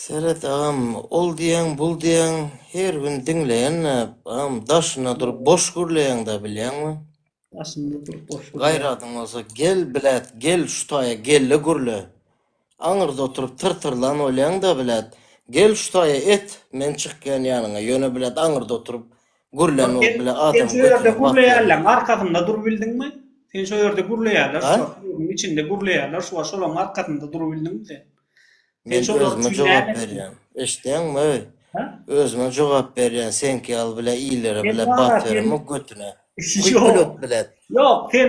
Seret agam ol diýeň bul diýeň her gün diňleýänä agam daşynda durup boş gürleýäňdä bilýäňmi. Daşynda durup boş gürleýän. Gaýradyň bolsa gel bilet gel şu taýa gelle gürle. Aňyrda oturyp tyr tyrlan bolýaňda bilet gel şu taýa et men çykýan ýanyňa ýöne bilet aňyrda oturyp Gürlän bolup bile adamyň götüne bat berýär. Arkasynda dur bildiňmi? Sen şo ýerde gürleýärler şo ýurduň içinde gürleýärler şo şolaň arkasynda dur bildiňmi sen? Sen şo özüme jogap berýän. Eşdeňmi öý? Özüme jogap berýän seňki ýaly bile illere bile bat beremok götüne. Ýok bile. Ýok sen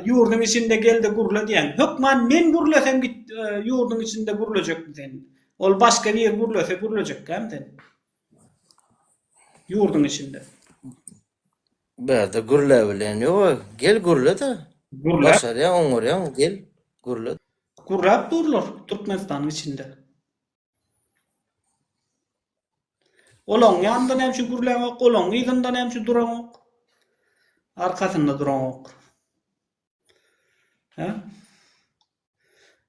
ýurduň içinde gelde gürle diýen. Hökman men gürlesem git ýurduň içinde gürlejekmi sen? Ol başga bir gürlese gürlejekkämi sen? Ýurduň içinde. Bärde gürläbilen ýoga, gel gürle-de. Gürläp. Başarýaň, oňarýaň, gel, gürle. Gürläp durlar Türkmenistanyň içinde. Olaň ýanynda näme üçin gürläňok, olaň yzynda näme üçin duraňok? Arkasynda duraňok.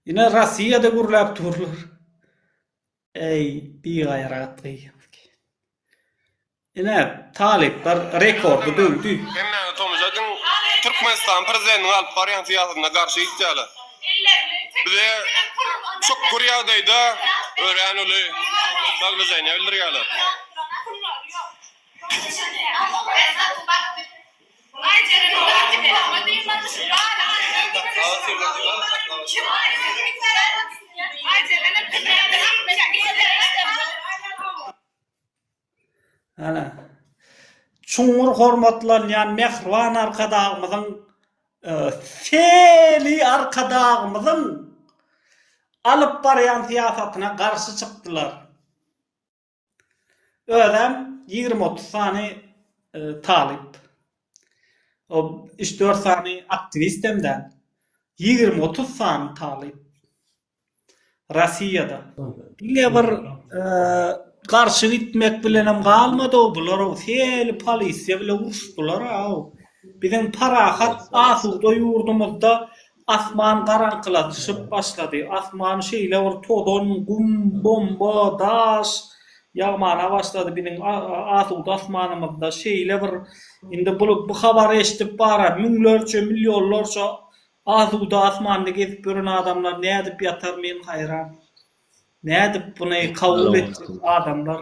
Ine Rossiýada gürläp durlar. Eý, bigaýrat gyýaky. Ine, talyplar rekordy döwdi. Hemmäňiz tomaşadyň, Türkmenistan prezidentiniň alyp barýan syýasatyna garşy gitýärler. Bize çukur ýagdaýda örän uly naglajeniýa bildirýärler. Çuňňur hormatlanýan mähriban Arkadagymyzyň Seli Arkadagymyzyň alyp barýan syýasatyna garşy çykdylar. Özem ýigrimi-otuz sany talyp, üç-dört sany aktiwist hem däl, ýigrimi-otuz sany talyp Rossiýada. Diňe bir garşy gitmek bilenem galmady-ow bular-ow, heli polisiýa bile uruşdylar-ow. Biziň parahat, asuda ýurdumyzda Asman garaňkylaşyp başlady. Asman şeýle bir tozan, gum, bomba, daş ýagmana başlady biziň asuda asmanymyzda. Şeýle bir indi bu habary eşidip bara müňlerçe, millionlarça asuda asmanda gezip ýören adamlar nädip ýatar men haýran. Nädip buny kabul etjek adamlar?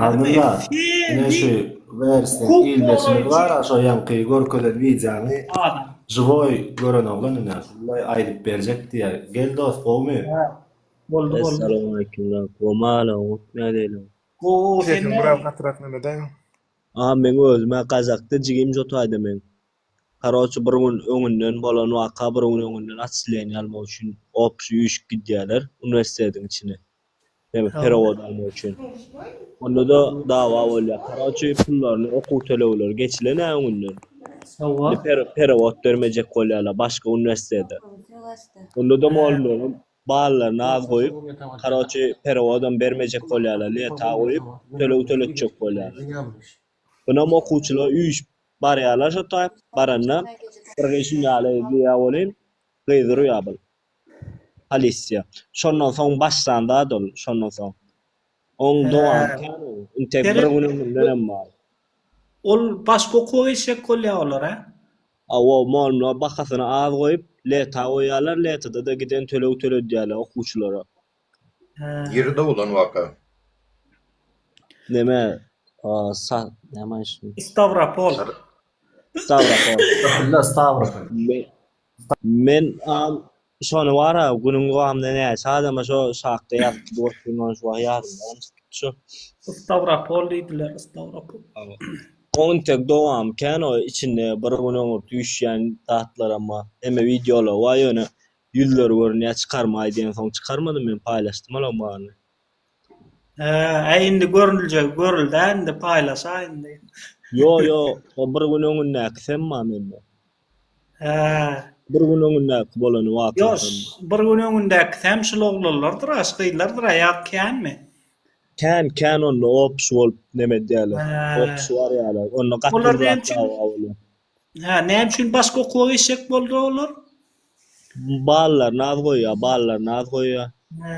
Abdylla ine şu wersni ildeşimiz bar a şo ýaňky görkezen wideony žiwoý gören oglan ine şunda aýdyp berjek diýýär gel dos gowumy boldy boldy Essalamualeýkum Womaleýkum nädeýleň Gowy sesiň biraz gatyrak näme daýaň a meň özüm a gazakda jigim jotaýda meň. Karoçi bir gün öňünden bolan waka bir gün öňünden atçileýin almak üçin opşi üýşüp gidýärler uniwersitetiň içine näme perawod almak üçin ondada dawa bolýar karoçi pullaryny okuw tölegleri geçilen ä öňünden indi perawod bermejek bolýarlar başga uniwersitete ondada mugallymlaram ballaryny az goýup karoçi perawodam bermejek bolýarlar leta goýup töleg töletjek bolýarlar. Ynam okuwçylar üýşüp barýarlar şo taý. Baranda bir gyz şun ýaly diýýär welin, gyz urýar bul polisiýa. Şondan soň başlan zat ol. Şondan soň. Oň dowamy kän ol. Intek bir gün ömründenem bar. Ol başga okuwa geçjek bolýar olar, hä? Hawa, mugallymlar bahasyny az goýup, leta goýýarlar, letada-da giden töleg töledýärler okuwçylara. Ýeride bolan waka. Neme o sa neme işin. Stawropol. Stawropol. Ýa Stawropol. Men am şony bara günüň dowamynda näçe adama şo şakda ýazyp goýupdym ony şu wagt ýadymda şu. Stawropol diýdiler Stawropol. Oň intek dowamy kän o içinde bir gün öňürti üýşýän zatlaram bar. Hemme wideolar bar ýöne Ýüzleri görünýä çykarmaý diýensoň çykarmadym men paýlaşdym olaň baryny. Äý indi görüljegi görüldä indi paýlaşaý indi. Ýo ýo o bir gün öňündäki sen ma mende. Hää. Bir gün öňündäki bolany waka sen ma. Ýo bir gün öňündäki säm şul oglanlardyra şu gyzlardyra ýat känmi. Kän kän onda opşy bolup neme edýäler. Opşy barýalar onda gaty bir zat ýok. Hä, näme üçin başga okuwa geçjek boldy olar? Ballaryny az goýýar, ballaryny az goýýar. Hä.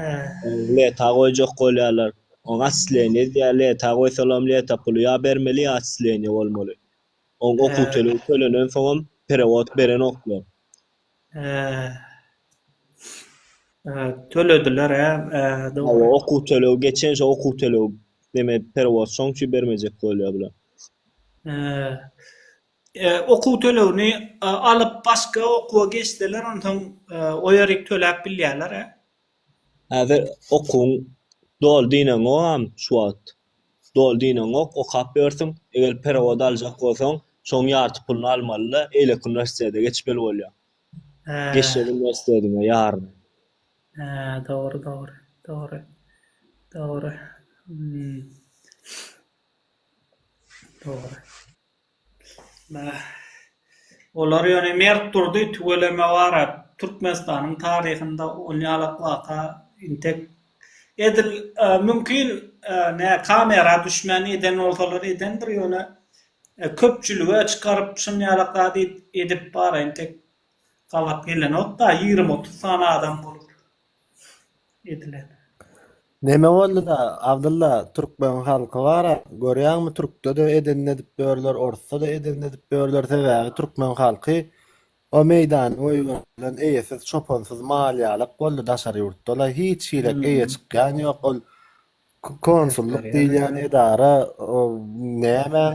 Leta goýjak bolýarlar. Oň atçysleniýe edýär, leta goýsalam leta puly ýa bermeli, ýa atçysleniýe bolmaly. Oň okuw tölegi tölenen soňam perewod berenoklar. Tölediler-ä dogry. Ýa okuw töleg geçen şo okuw töleg deme perewod şoň üçin bermejek bolýar bular. Okuw tölegini alyp başga okuwa geçseler onsoň o ýerik töläp bilýärler-ä. Häzir okuwyň doly diýneňogam şu wagt. Doly diýneňok, okap ýörsüň. Eger perewod aljak bolsaň, şoň ýarty puluny almaly-da, eýleki uniwersitete geçmeli bolýaň. Hä. Geçjek uniwersitetiňe ýaryny. Hä, dogry, dogry. Dogry. Dogry. Hum. Dogry. Olar ýöne mert durdy, tüweleme bar-a, Türkmenistanyň taryhynda onýalak waka intek edil, mümkin, nä kamera düşmän eden bolsalar edendir, ýöne köpçülige çykaryp şunýalak zady edip bar-a, intek gabat gelenok-da, ýigrimi-otuz sany adam bolup. edilen. Neme bolduda Abdylla türkmen halky bara görýäňmi türkdede edenini edip ýörler orsdada edenini edip ýörler sebäbi türkmen halky o meýdany goýberdilen eýesiz çopansyz mal ýalak boldy daşary ýurtdalaý hiç hili eýe çykýan ýok ol Konsullyk diýilýän edara nämäň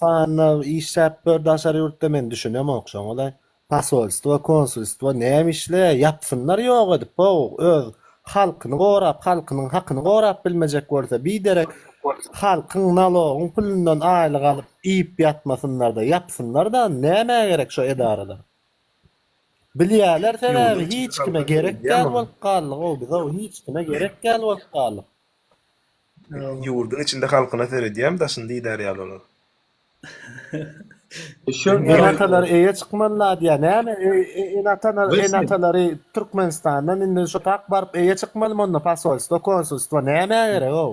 sanyna işläp dur daşary ýurtda men düşünemok şoňalaý. Posolstwo konsulstwo näme işleýär ýapsynlar ýok edip how öz halkyny gorap halkynyň hakyny gorap bilmejek bolsa biderek halkyň nalogyň pulundan aýlyk alyp iýip ýatmasynlarda ýapsynlarda näme gerek şo edaralar. Bilýärler sebäbi hiç kime gerek däl bolup galdyk ow biz ow hiç kime gerek däl bolup galdyk. Ýurdyň içinde halkyna seredýäm daşyny diýdär ýaly olar. Ene atalary öýe çykmalylar diýýär näme ene atalar ene atalary Türkmenistandan indi şo tak baryp öýe çykmalymy onda posolstwo konsulstwo nämä gerek ow.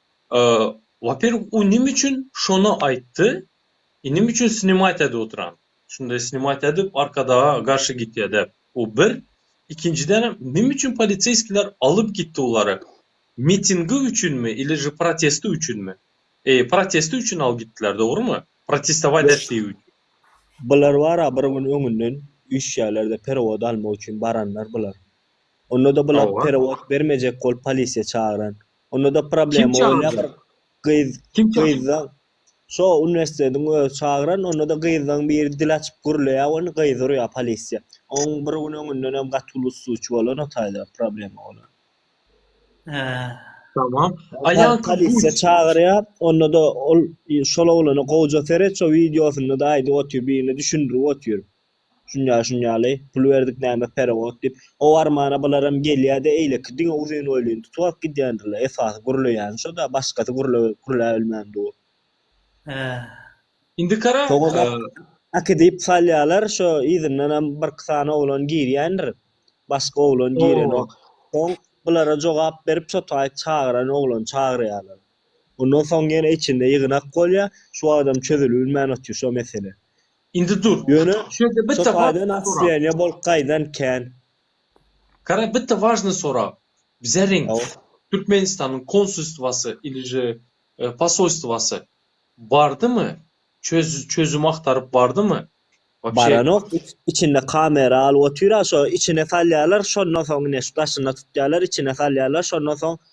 Waperwk u nim üçin şony aýtdy inim üçin snimat edip otyran şunday snimat edip arkadaga garşy gitýa dep u bir ikinjidenem nim üçin poliseýskiler alyp gitdi ulary mitingi üçinmi ili je protesti üçinmi eý protesti üçin alyp gitdiler dogrymy protestować etdigi üçin. Bular bara bir gün öňünden üýşýärlerde perewod almak üçin baranlar bular ondada bular perewod bermejek bolup polisiýa çagyran Onda-da problema bolýar bir gyz, gyzda şo uniwersitetiň özi çagyran, onda-da gyzlaň biri dil açyp gürleýär, ony gyz urýar polisiýa. Oň bir gün öňündenem gaty uly ustuwçy bolan o taýda problema bolan. Hä. Tamam. Aýal polisiýa çagyrýar, onda-da ol şol oglana gowja seret, şo wideosynda-da aýdyp otyr, birine düşündirip otyr. Şunýa, şun ýaly. Pul berdik näme perewood diýip. O armana bularam gelýä-de eýleki diňe uzyn boýlyny tutubap gidýändirler. Esasy gürleýäni şo-da, başgasy gürlewip gürläbilmän dur. Hä. Indi kara. Soňam äkidip salýalar, şo yzyndanam birki sany oglan girýändir. Başga oglan girenok. Soň bulara jogap berip şo taýy çagyran oglany çagyrýalar. Ondan soň ýene içinde ýygnak bolýa, şu wagtam çözülibilmän otyr şo mesele. Indi dur. Ýöne şo taýdan atstrealniýa bolup gaýdan kän. Gara bitti wažnyý sorag. Bizeriň Türkmenistanyň konsulstwasy ilije posolstwasy bardymy? Çözüm agtaryp bardymy? Baranok içinde kamera alyp otyra şo içine salýarlar şondan soň ine şu daşynda tutýarlar içine salýarlar şondan soň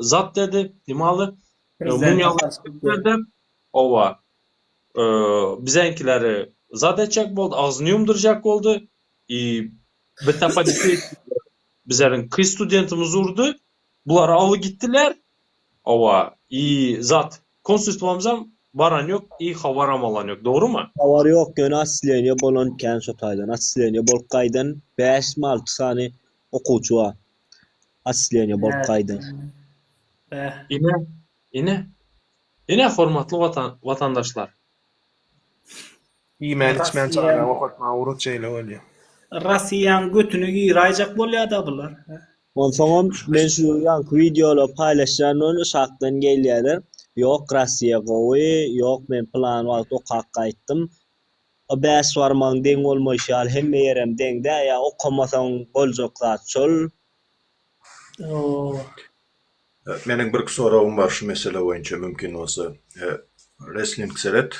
zat dedi. Nimaly? Mumyalary Owa. Bizeňkileri zat etjek boldy, agzyny ýumdurjak boldy. I bitapaliki bizleriň ki studentimiz urdy. Bular aly gitdiler. Owa. I zat konsulstwamyzam baran ýok, i habaram alan ýok. Dogrymy? Habar ýok, ýöne atsleniýe bolan kän şo taýdan. Atsleniýe bolup gaýdan bäşmi-alty sany okuwçy bar. Atsleniýa bolup gaýdyň. Bäh. Ine, ine, ine hormatly watan, watandaşlar. Iýmän içmän çaga okatmaga urus şeýle bolýa. Rasiýaň götüne giraýjak bolýada bular. Onsoňam men şu ýanky wideolary paýlaşýandan şatdan gelýäler. Ýok Rasiýa gowy, ýok men pylan wagt okap gaýtdym. O bäş barmagyň deň bolmaýşy ýaly hemme ýerem deň-dä, ýa okamasaň boljak zat şol. Ýok. Meniň birki soragym bar şu mesele boýunça mümkin bolsa. Resling seret.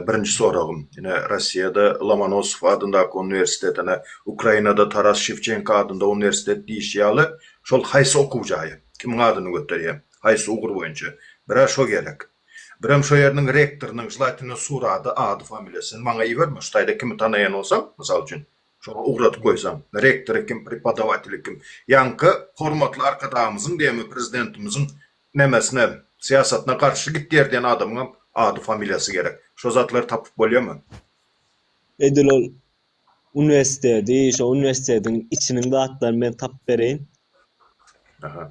Birinji soragym. Ine Rossiýada Lomonosow adyndaky uniwersitet ine Ukrainada Taras Şewçenko adynda uniwersitet diýişi ýaly şol haýsy okuw jaýy? Kimiň adyny göterýär? Haýsy ugur boýunça? Bir-ä şo gerek. Birem şo ýeriniň rektorynyň želatinden surady, ady-familiýasyny maňa iberme, şu taýda kimi tanaýan bolsaň, mysal üçin, şoňa ugradyp goýsaň, rektory kim, prepodawateli kim, ýaňky hormatly Arkadagymyzyň diýemmi, Prezidentimiziň nemesine, syýasatyna garşy gidýär diýen adamyňam ady-familiýasy gerek. Şo zatlary tapyp bolýamy? Edil ol Uniwersiteti, şo uniwersitetiň içiniň zatlaryny men tapyp bereýin. Aha.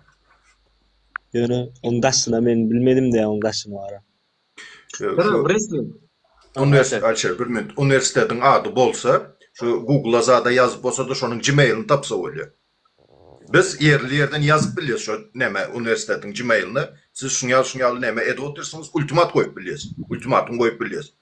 Ýöne onuň daşyna men bilmedim-de onuň daşyny bara. Ýa, Gara, şu wrestling. Uniwersitet, Alişer, bir minut. Uniwersitetiň ady bolsa, şu Google-a zada ýazyp bolsa-da, şonuň Gmail-ini tapsa bolýar. Biz ýerli ýerden ýazyp bilýäs şo näme, uniwersitetiň Gmail-ini. Siz şuňa şuňaly näme edip otyrsyňyz, ultimat goýup bilýäs. Ultimatum goýup bilýäs.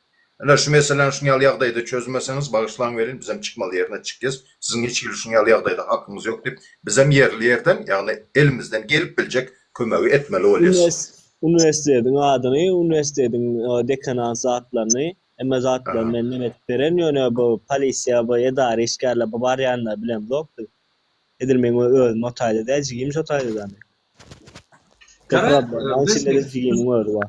Ine şu meseläni şuň ýaly ýagdaýda çözmeseňiz bagyşlaň welin bizem çykmaly ýerine çykýas, siziň hiç hili şuň ýaly ýagdaýda hakyňyz ýok diýip bizem ýerli ýerden ýagny elimizden gelip biljek kömegi etmeli bolýas. Uniwersitetiň adyny, uniwersitetiň dekanat zatlaryny hemme zatlary menden edip beren ýöne bu polisiýa bu edara işgärler bu barýanlary bilemzok biz. Edil meň özüm otaýda däl jigim şotaýda däl. Gara biz jigimiň özi bar.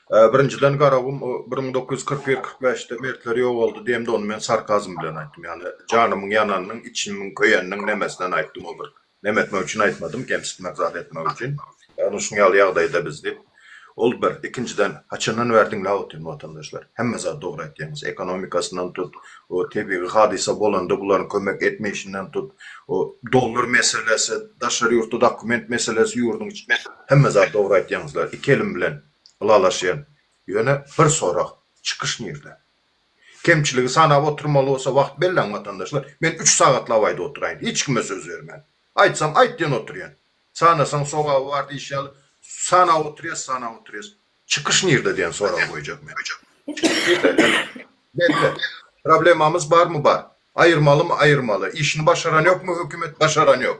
Birinjiden Garagum bir müň dokuz ýüz kyrk bir, kyrk bäşde mertleri ýogaldy diýemde ony men sarkazm bilen aýtdym ýagny janymyň ýananynyň içimiň köýeniniň nemesinden aýtdym ol bir neme etmek üçin aýtmadym kemsitmek zat etmek üçin ýagny şuň ýaly ýagdaýda biz diýip ol bir ikinjiden haçandan bäri diňläp otyryn watandaşlar hemme zat dogry aýtýaňyz ekonomikasyndan tut o tebigy hadysa bolanda bularyň kömek etmeýşinden tut o dollar meselesi daşary ýurtda dokument meselesi ýurduň içinde hemme zat dogry aýtýaňyzlar iki elim bilen Ylalaşýan. Ýöne bir sorag, çykyş nirde? Kemçiligi sanap oturmaly bolsa wagt belläň watandaşlar, men üç sagatlap aýdyp oturaýyn, hiç kime söz bermän. Aýtsam aýt diýen oturýan. Sanasaň sogaby bar diýşi ýaly, sanap oturýas, sanap oturýas. Çykyş nirde diýen soragy goýjak men. Çykyş nirde? Hany? Belli. Problemamyz barmy bar. Aýyrmalymy aýyrmaly. Işini başaran ýokmy hökümet, başaran ýok.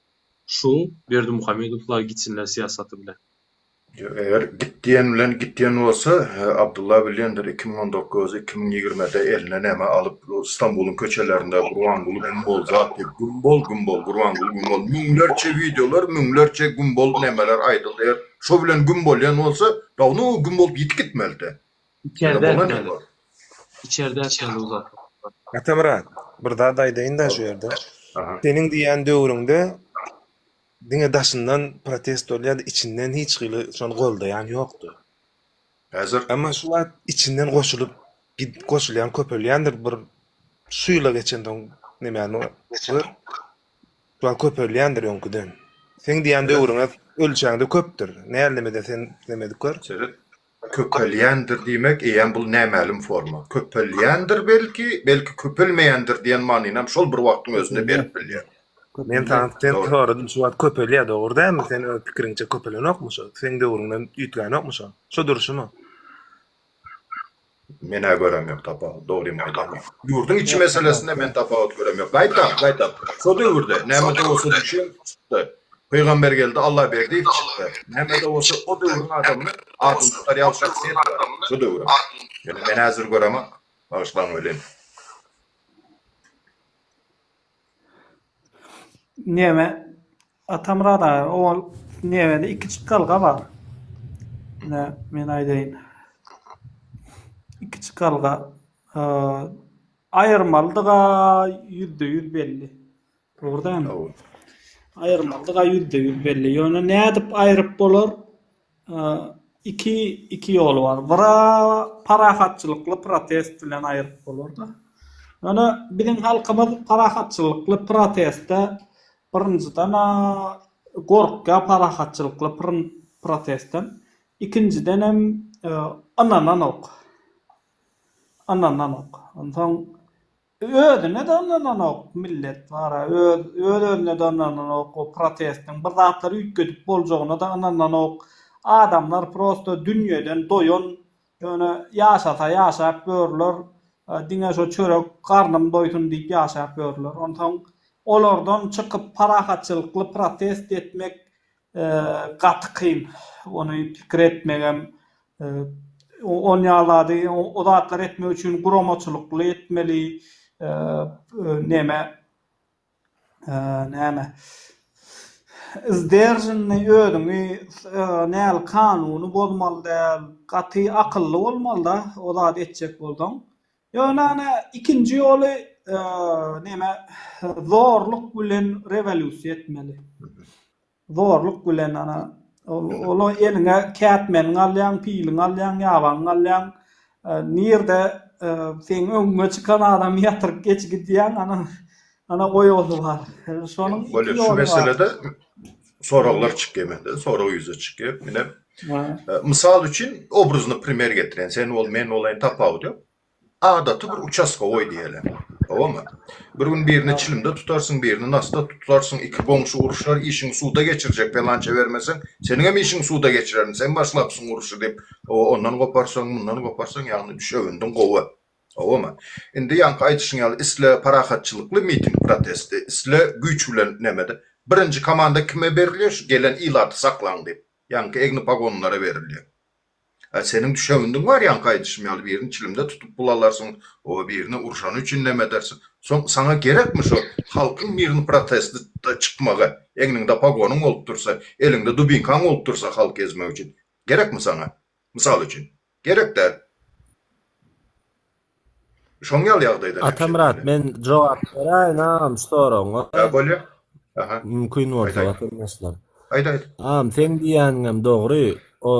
Şu Berdimuhamedowlar gitsinler syýasaty bilen. Ýok eger git diýen bilen git diýen bolsa Abdylla bilýändir iki müň on dokuz iki müň ýigrimide eline näme alyp Stambulyň köçelerinde Gurbanguly güm bol zat diýip güm bol güm bol Gurbanguly güm bol müňlerçe wideolar müňlerçe güm bol nämeler aýdyldy eger şo bilen güm bolýan bolsa dawno güm bolup ýitip gitmelidi. Içerde etmeli. Içerde etmeli uzak. Atamyrat, bir zat aýdaýyn-da şu ýerde. Seniň diýýän döwrüňde diňe daşyndan protest bolýardy, içinden hiç hili şony goldaýan ýokdy. Häzir? Emma şu wagt içinden goşulyp, goşulýan köpelýändir. Bir şu ýyla geçensoň nämäni gör. Şu wagt köpelýändir öňküden. Seň diýýän döwrüňe ölçäňde köpdür. Nälemede sen nämedik gör. Seret. Köpelýändir diýmek, eýýäm bul nämälim forma. Köpelýändir belki, belki köpelmeýändir diýen manynam şol bir wagtyň özünde berip bilýär. Men Tansten soradym, şu wagt köpelýär, dogry dälmi? Sen öz pikiriňçe köpelenokmy şo? Seň döwrüňden üýtgänokmy şo? Şo durşumy? Menä görem ýok tapawut dogrymy aýdaýyn. Ýurduň içi meselesinde men tapawut görem ýok. Gaýtam, gaýtam. Şo döwürde näme-de bolsa düşen çykdy. Pygambergeldi Allaberdiýew çykdy. Näme-de bolsa o döwrüň adamyny adyny tutar ýaly şahsyýet bar. Şo döwrüň. Ýöne men häzir göremok. Bagyşlaň welin. Neme Atamyrat aga o nevede iki çykalga bar. Ne men aýdaýyn. Iki çykalga e, aýyrmalydyga ýüzde ýüz belli. Dogrudan. Aýyrmalydyga ýüzde ýüz belli. Ýöne nädip aýryp bolar? Iki iki ýoly bar. Biri parahatçylykly protest bilen aýryp bolardy. Ýöne biziň halkymyz parahatçylykly proteste birinjiden gorkýar parahatçylykly protestden. Ikinjidenem ynananok. Ynananok. Onsoň Özüne de ynananok millet bara öz öz özüne de ynananok o protestiň bir zatlar üýtgedip boljagyna da ynananok adamlar prosta dünýeden doýan ýöne ýaşasa ýaşap ýörler diňe şo çörek garnym doýsun diýip ýaşap ýörler onsoň olardan çykyp parahatçylykly protest etmek Gaty kyn ony pikir etmegem. On ýaly zady, o zatlary etmek üçin guramaçylykly etmeli. Neme, näme, sderženli, özüňi näl, kanuny bozmaly däl. Gaty akylly bolmaly-da, o zady etjek bolsaň. Ýöne ene ikinji ýoly neme zorluk bilen rewolýusiýa etmeli. Zorluk bilen ana ol eliňe kätmeniňi alýaň, piliňi alýaň, ýabaňy alýaň. Nirde seň öňüňe çykan adamy ýatyryp geçigidýäň, ana Ana goý o suwar. Şonuň Bolýar. Şu meselede soraglar çykýar mende. Sorag ýüze çykýar. Ine, e, mysal üçin obrazyny primer getiren. Sen bol, men bolaýyn tapawudy ýok. Adaty bir uçastogoý diýeli. Howamy? Bir gün birini çilimde tutarsyň, birini nasda tutarsyň, iki goňşy uruşar, işiňi suda geçirjek, pelança bermeseň, seniň hem işiňi suda geçirerin, sen başlapsyň uruşy diýip, o ondan goparsaň, mundan goparsaň, ýagny düşewündiň gowy. Howama. Indi ýaňky aýdyşyň ýaly isle parahatçylykly miting protesti, isle güýç bilen nemede. Birinji komanda kime berilýär şu gelen ilaty saklaň diýip. Ýaňky egni pagonlara berilýär. A seniň düşegindiň bar ýaňky aýdyşym ýaly birini çilimde tutup bulalarsyň, oba birini urşany üçin neme edersiň. Soň saňa gerekmi şu halkyň mirni protesti da çykmagy. Egniňde pagonyň bolup dursa, eliňde dubinkaň bolup dursa halky ezmek üçin. Gerekmi saňa. Mysal üçin. Gerek däl. Şoň ýaly ýagdaýda. Atamyrat men jogap beräýin agam şu soragyňa. Ýa bolýa. Aha. Mümkin bolsa watandaşlar. Aýt aýt. Agam seň diýýäniňem dogry. O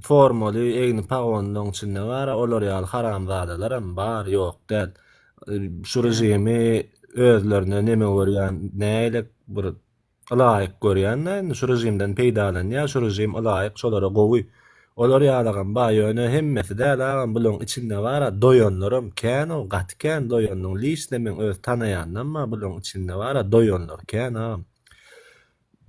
formaly egni pagonlaryň içinde bar, olar ýaly haramzadalaram bar, ýok däl. Şu režimi özlerine neme görýän nägile bir Ylaýyk görýän-dä indi şu režimden peýdalanýar, şu režim ylaýyk şolara gowy. Olar ýalagam bar, ýöne hemmesi däl agam, bularyň içinde bar-a, doýanlaram kän-ow, gaty kän doýanlaryň, liçne meň öz tanaýanlaram bar, bularyň içinde bar-a, doýanlar kän agam.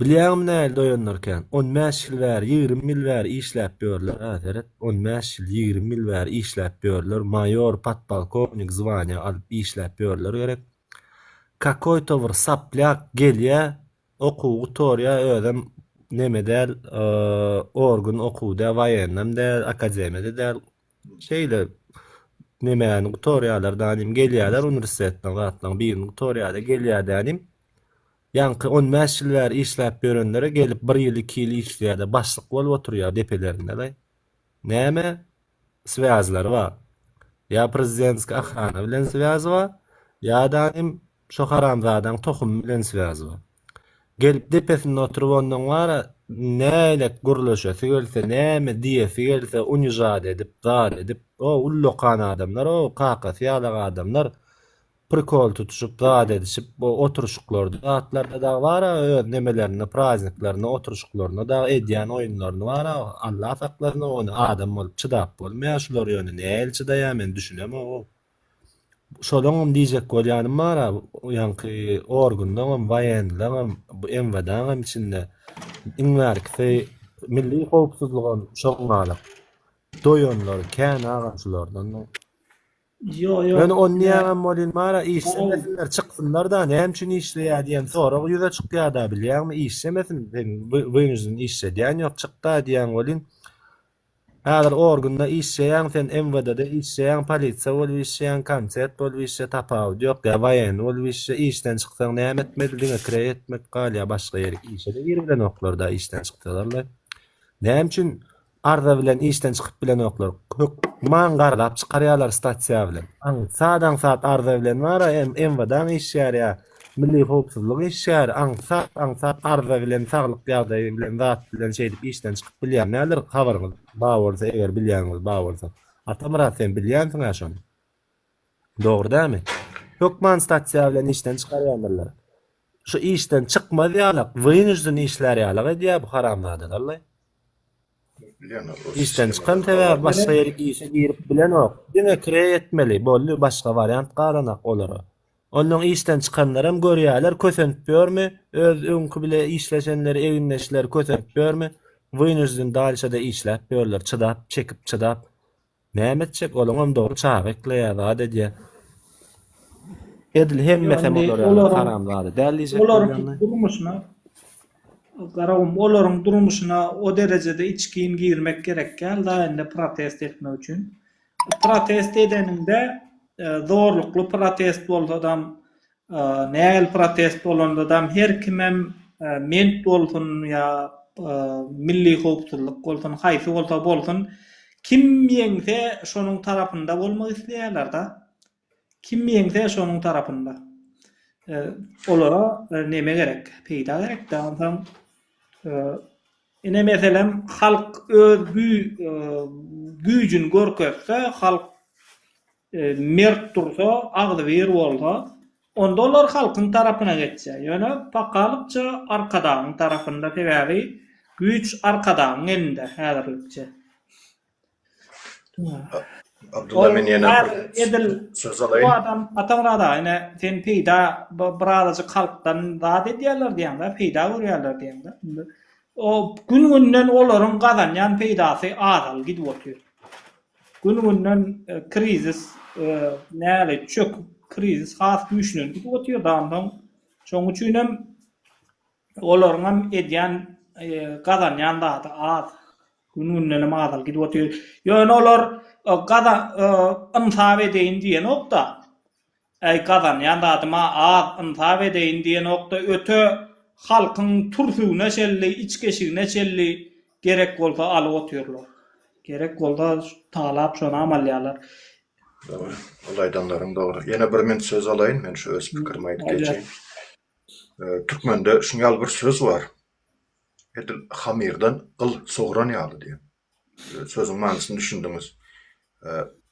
Bilýäňmi nähili doýanlar kän? On bäş ýyl bäri, ýigrimi ýyl bäri işläp ýörler-ä, seret, on bäş ýyl, ýigrimi ýyl bäri işläp ýörler, maýor, podpolkownik zwania alyp işläp ýörler gerek. Kakoýto bir saplýak gelýä okuw gutorýa özem neme däl orgun okuw dä waýennem dä akademiýada däl şeýle nemäni gutorýalar danym gelýäler uniwersitetden zatlaň birini gutorýada gelýä dänim ýaňky on bäş ýyl bäri işläp ýörenlere gelip bir ýyl iki ýyl işleýä-de başlyk bolup oturýa depelerinde-le Näme swýazlary bar. Ýa prezidentskiý ahrana bilen swýazy bar, ýa-da hem şo haramzadaň tohumy bilen swýazy bar. Gelip depesinde oturyp onnoň bar-a nälet gürleşesi gelse, näme diýesi gelse unizat edip, zal edip, o ullakan adamlar, o kakasy ýalak adamlar prikol tutuşyp, zat edişip, bu oturşyklarda, zatlarda dagy bar-a, öz nemelerinde, prazniklerinde, oturşyklarynda dagy edýän oýunlaryny bar-a, Allah saklasyn, ony adam bolup çydap bolmaýar, şular ýöne nähili çydaýar, men düşünemogom. Şolaňam diýjek bolýanym bar-a, ýaňky organlaňam, waýenleňem, bu MWD-ňam içinde iň bärkisi milli howpsuzlygam şoň galak. Doýanlary kän agam şulardan. Men on diýäňem bolýn Mara işlemesinler çyksynlarda näme üçin işleýär diýen sorag ýüze çykýada bilýäňmi işlemesin seň wynjin işledýän ýok çykda diýen bolýn Häzir orgunda işleýäň sen MWD-de işleýäň polisiýa bolup işleýäň konset bolup işle tapawudy ýok ýa waýenny bolup işle işden çyksaň näme etmeli diňe kireý etmek galýa başga ýerik işede girip bilenoklarda işden çyksalar-la näme üçin Arza bilen işden çykyp bilenoklar. Hökman garlap çykarýarlar stasiýa bilen. Aňsat aňsat arza bilen bar MWD-ň işgäri ýa milli howpsuzlyk işgäri aňsat aňsat arza bilen saglyk ýagdaýy bilen zat bilen şeýdip işden çykyp bilýär näler habaryňyz ba bolsa eger bilýäniňiz ba bolsa Atamyrat sen bilýänsiň-ä şony. Dogry dämi? Hökman statsiýa bilen işden çykarýandyrlar. Şu işden çykmaz ýalak, wynujden işlär ýalak edýär bu haramzada dallay. Işden çykan sebäbi başga ýer işe girip bilenok. Diňe kireý etmeli, boldy, başga wariant galanak olara. Onnoň işden çykanlaram görýärler, kösenip ýörmi, öz öňki bile işleşenleri, egindeşleri kösenip ýörmi, wynujden dalşada işläp ýörler, çydap, çekip, çydap. Näme etjek olaňam dogry çaga ekleýä zat edýä. Edil hemmesem olara haram zada däl diýjek bolýan. Olaryň durmuşyna garagum olaryň durmuşyna o derejede içgin girmek gerek gäl da indi protest etmek üçin. Protest edeniňde zorlukly protest bolsadam Nähili protest bolandadam her kimem ment bolsun ýa milli howpsuzlyk bolsun haýsy bolsa bolsun kim ýeňse şonuň tarapynda bolmak isleýärlerda. Kim ýeňse şonuň tarapynda. Olara neme gerek peýda gerekdä onsoň ine meselem halk öz güýjüni görkezse halk Mert dursa, agzybir bolsa, onda olar halkyň tarapyna geçýär. Ýöne pakalykça Arkadagyň tarapynda, sebäbi güýç Arkadagyň elinde häzirlikçe. Abdylla men ýene bir edil söz alaýyn. Bu adam Atamyrat aga ine sen peýda birazajyk halkdan zat edýärler diýýäňdä, peýda görýärler diýýäňdä. Indi o gün-günden olaryň gazanýan peýdasy azal gidip otyr. Gün-günden krizis nälet çöküp, krizis has güýçlenip gidip otyrdan soň, şonuň üçin hem olaryň hem edýän, gazanýan zady az. Gün-günden hem azalyp gidip otyr. Ýöne olar gazan, ynsap edeýin diýenok-da. Äý gazanýan zadym-a az, ynsap edeýin diýenok-da, öte, halkyň türsügine çenli, içgeşigine çenli gerek bolsa alyp otyrlar. Gerek bolsa talap şonam alýarlar. Dogry, ol aýdanlaryň dogry. Ýene bir men söz alaýyn, men şu öz pikirimi aýdyp geçeýin. Türkmende şuny ýaly bir söz bar, Edil hamyrdan gyl sogran ýaly diýen. Sözüň manysyny düşündiňiz.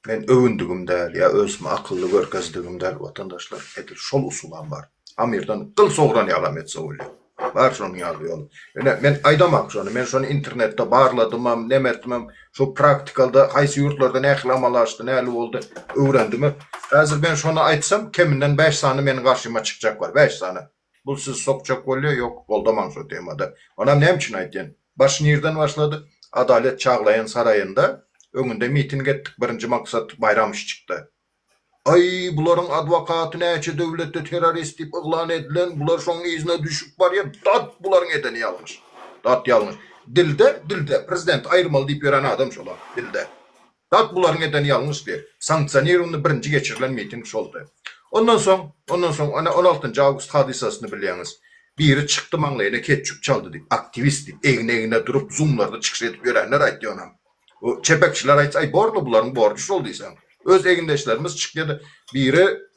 Men öwündigim däl ýa özümi akylly görkezdigim däl watandaşlar, edil şol usulam bar. Amirden gyl sogran ýalam etse bolýar. Bar şonuň ýaly ýoly. Ine, men aýdamok şony, men şony internetde barladymam, neme etdimem, şo praktikalda haýsy ýurtlarda nähili amala aşdy, näli boldy, öwrendimem. Häzir men şony aýtsam, keminden bäş sany meniň garşyma çykjak bar, bäş sany. Bul sizi sokjak bolýa ýok goldaman şo temada. Onam näme üçin aýtýan. Baş nirden başlady. Adalet çaglaýan saraýynda öňünde miting etdik birinji maksat Baýramşçykda. Aý bularyň adwokaty näçe döwletde terrorist diýip yglan edilen bular şoň yzyna düşüp barýa dat bularyň edeni ýalňyş. Dat ýalňyş. Dilde dilde prezidenti aýyrmaly diýip ýören adam şolar dilde. Tap bularyň eden ýalňyşdy. Sanksionirowany birinji geçirilen miting şoldy. Ondan soň, ondan soň, ana, on altynjy awgust hadysasyny bilýäňiz. Biri çykdy maňlaýyna ketçup çaldy diýip, aktiwist diýip, egin-egne durup, zumlarda çykyş edip ýörenler aýtdy onam. O çepekçiler aýtsa, aý, borly bularyň borjy şol diýseň. Öz egindeşlerimiz çykýa-da, biri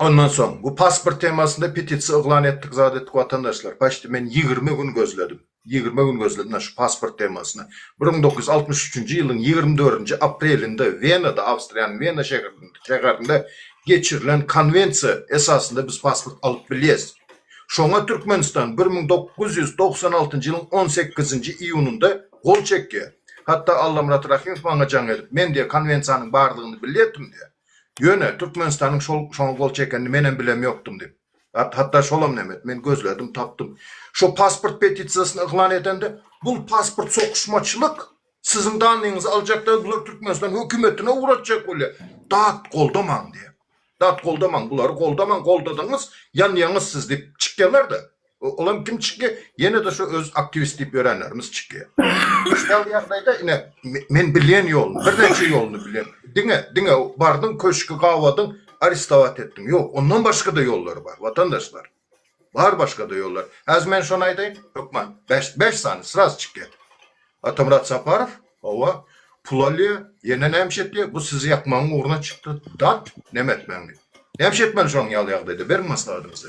Ondan soň bu pasport temasynda petisiýa yglan etdik zat etdik watandaşlar paçti men ýigrimi gün gözledim ýigrimi gün gözledim na şu pasport temasyna bir müň dokuz ýüz altmyş üçünji ýylyň ýigrimi dördünji aprelinde wenada awstriýanyň wena şehrinde şäherinde geçirilen konwensiýa esasynda biz pasport alyp bilýäs şoňa türkmenistan bir müň dokuz ýüz togsan altynjy ýylyň on sekizinji iýunynda gol çekýär hatda allamyrat rahymow maňa jaň edip men diýýär konwensiýanyň bardygyny bilýärdim diýýär Ýöne, Türkmenistanyň şol şoňa gol çekenini menem bilem ýokdum diýip. Hatda şolam näme et, men gözledim, tapdym. Şo pasport petisiýasyny yglan edende, bul pasport sokyşmaçylyk, siziň dannyňyzy aljakda bular Türkmenistan hökümetine ugratjak bolýar. Dat goldamaň diýýär. Dat goldamaň, bulary goldamaň, goldadyňyz, ýanýaňyz siz diýip çykýarlar-da. Olam kim çykýa? Ýene-de şu öz aktiwist diýip ýörenlerimiz çykýa. Şol ýagdaýda ine men bilýän ýoluny, birnäçe ýoluny bilýän. Diňe, diňe bardyň köşki gabadyň, arestowat etdiň. Ýok, ondan başga-da ýollary bar, watandaşlar. Bar başga-da ýollar. Häzir men şony aýdaýyn, hökman bäş, bäş sany sraz çykýa. Atamyrat Saparow, hawa, pul alýa, ýene näme iş etýä? Bu sizi ýakmagyň ugruna çykdy. Dat, näme etmäň diýip. Näme iş etmeli şonuň ýaly ýagdaýda? Beriň maslahatyňyzy.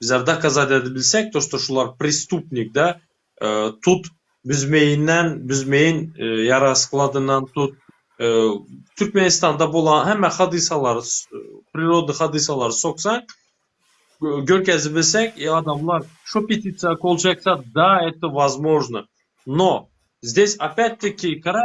Bizler dokazat edip bilsek to što şular prestupnik da tut büzmeýinden büzmeýin ýara skladyndan tut türkmenistanda bolan hemme hadysalary priroda hadysalary soksaň görkezip bilsek i adamlar şo petisiýa kol çekse da eto wazmožno no zdes opýat teki kara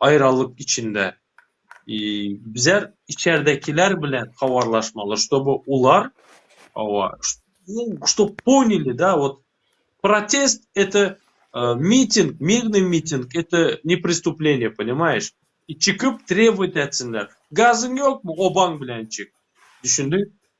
Aýralyk içinde bizler içerdekiler bilen habarlaşmaly, ştoby olar owa ştob ponili da wot protest ete miting, mirnyý miting ete ne pristupleniýe ponimaýeş i çykyp trebowat etsinler, gazyň ýokmy obaň bilen çyk, düşündiň?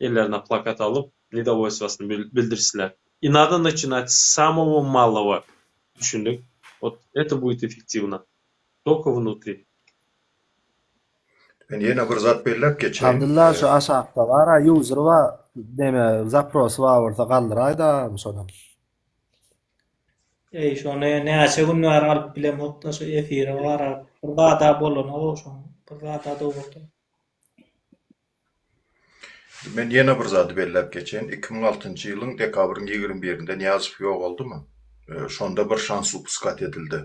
ellerine plakat alyp, nedowoýstwasyny bildirişdiler. I nadо naçinat s samowo malowo. Düşündik. Ot eto buýt effektiwno. Toko wnutri. Men ýene bir zat belläp geçeýin. Abdylla şu aşakda bara user ba neme zaprosy bar bolsa galdyraýda şonam. Eý şony näçe gün bäri alyp bilemokda şu efiri garap bir zada bolany goşuň bir zada dowrudym. Men ýene bir zady belläp geçeýin, iki müň altynjy ýylyň dekabryň ýigrimi birinde Nyýazow ýogaldymy, şonda bir şans upuskat edildi.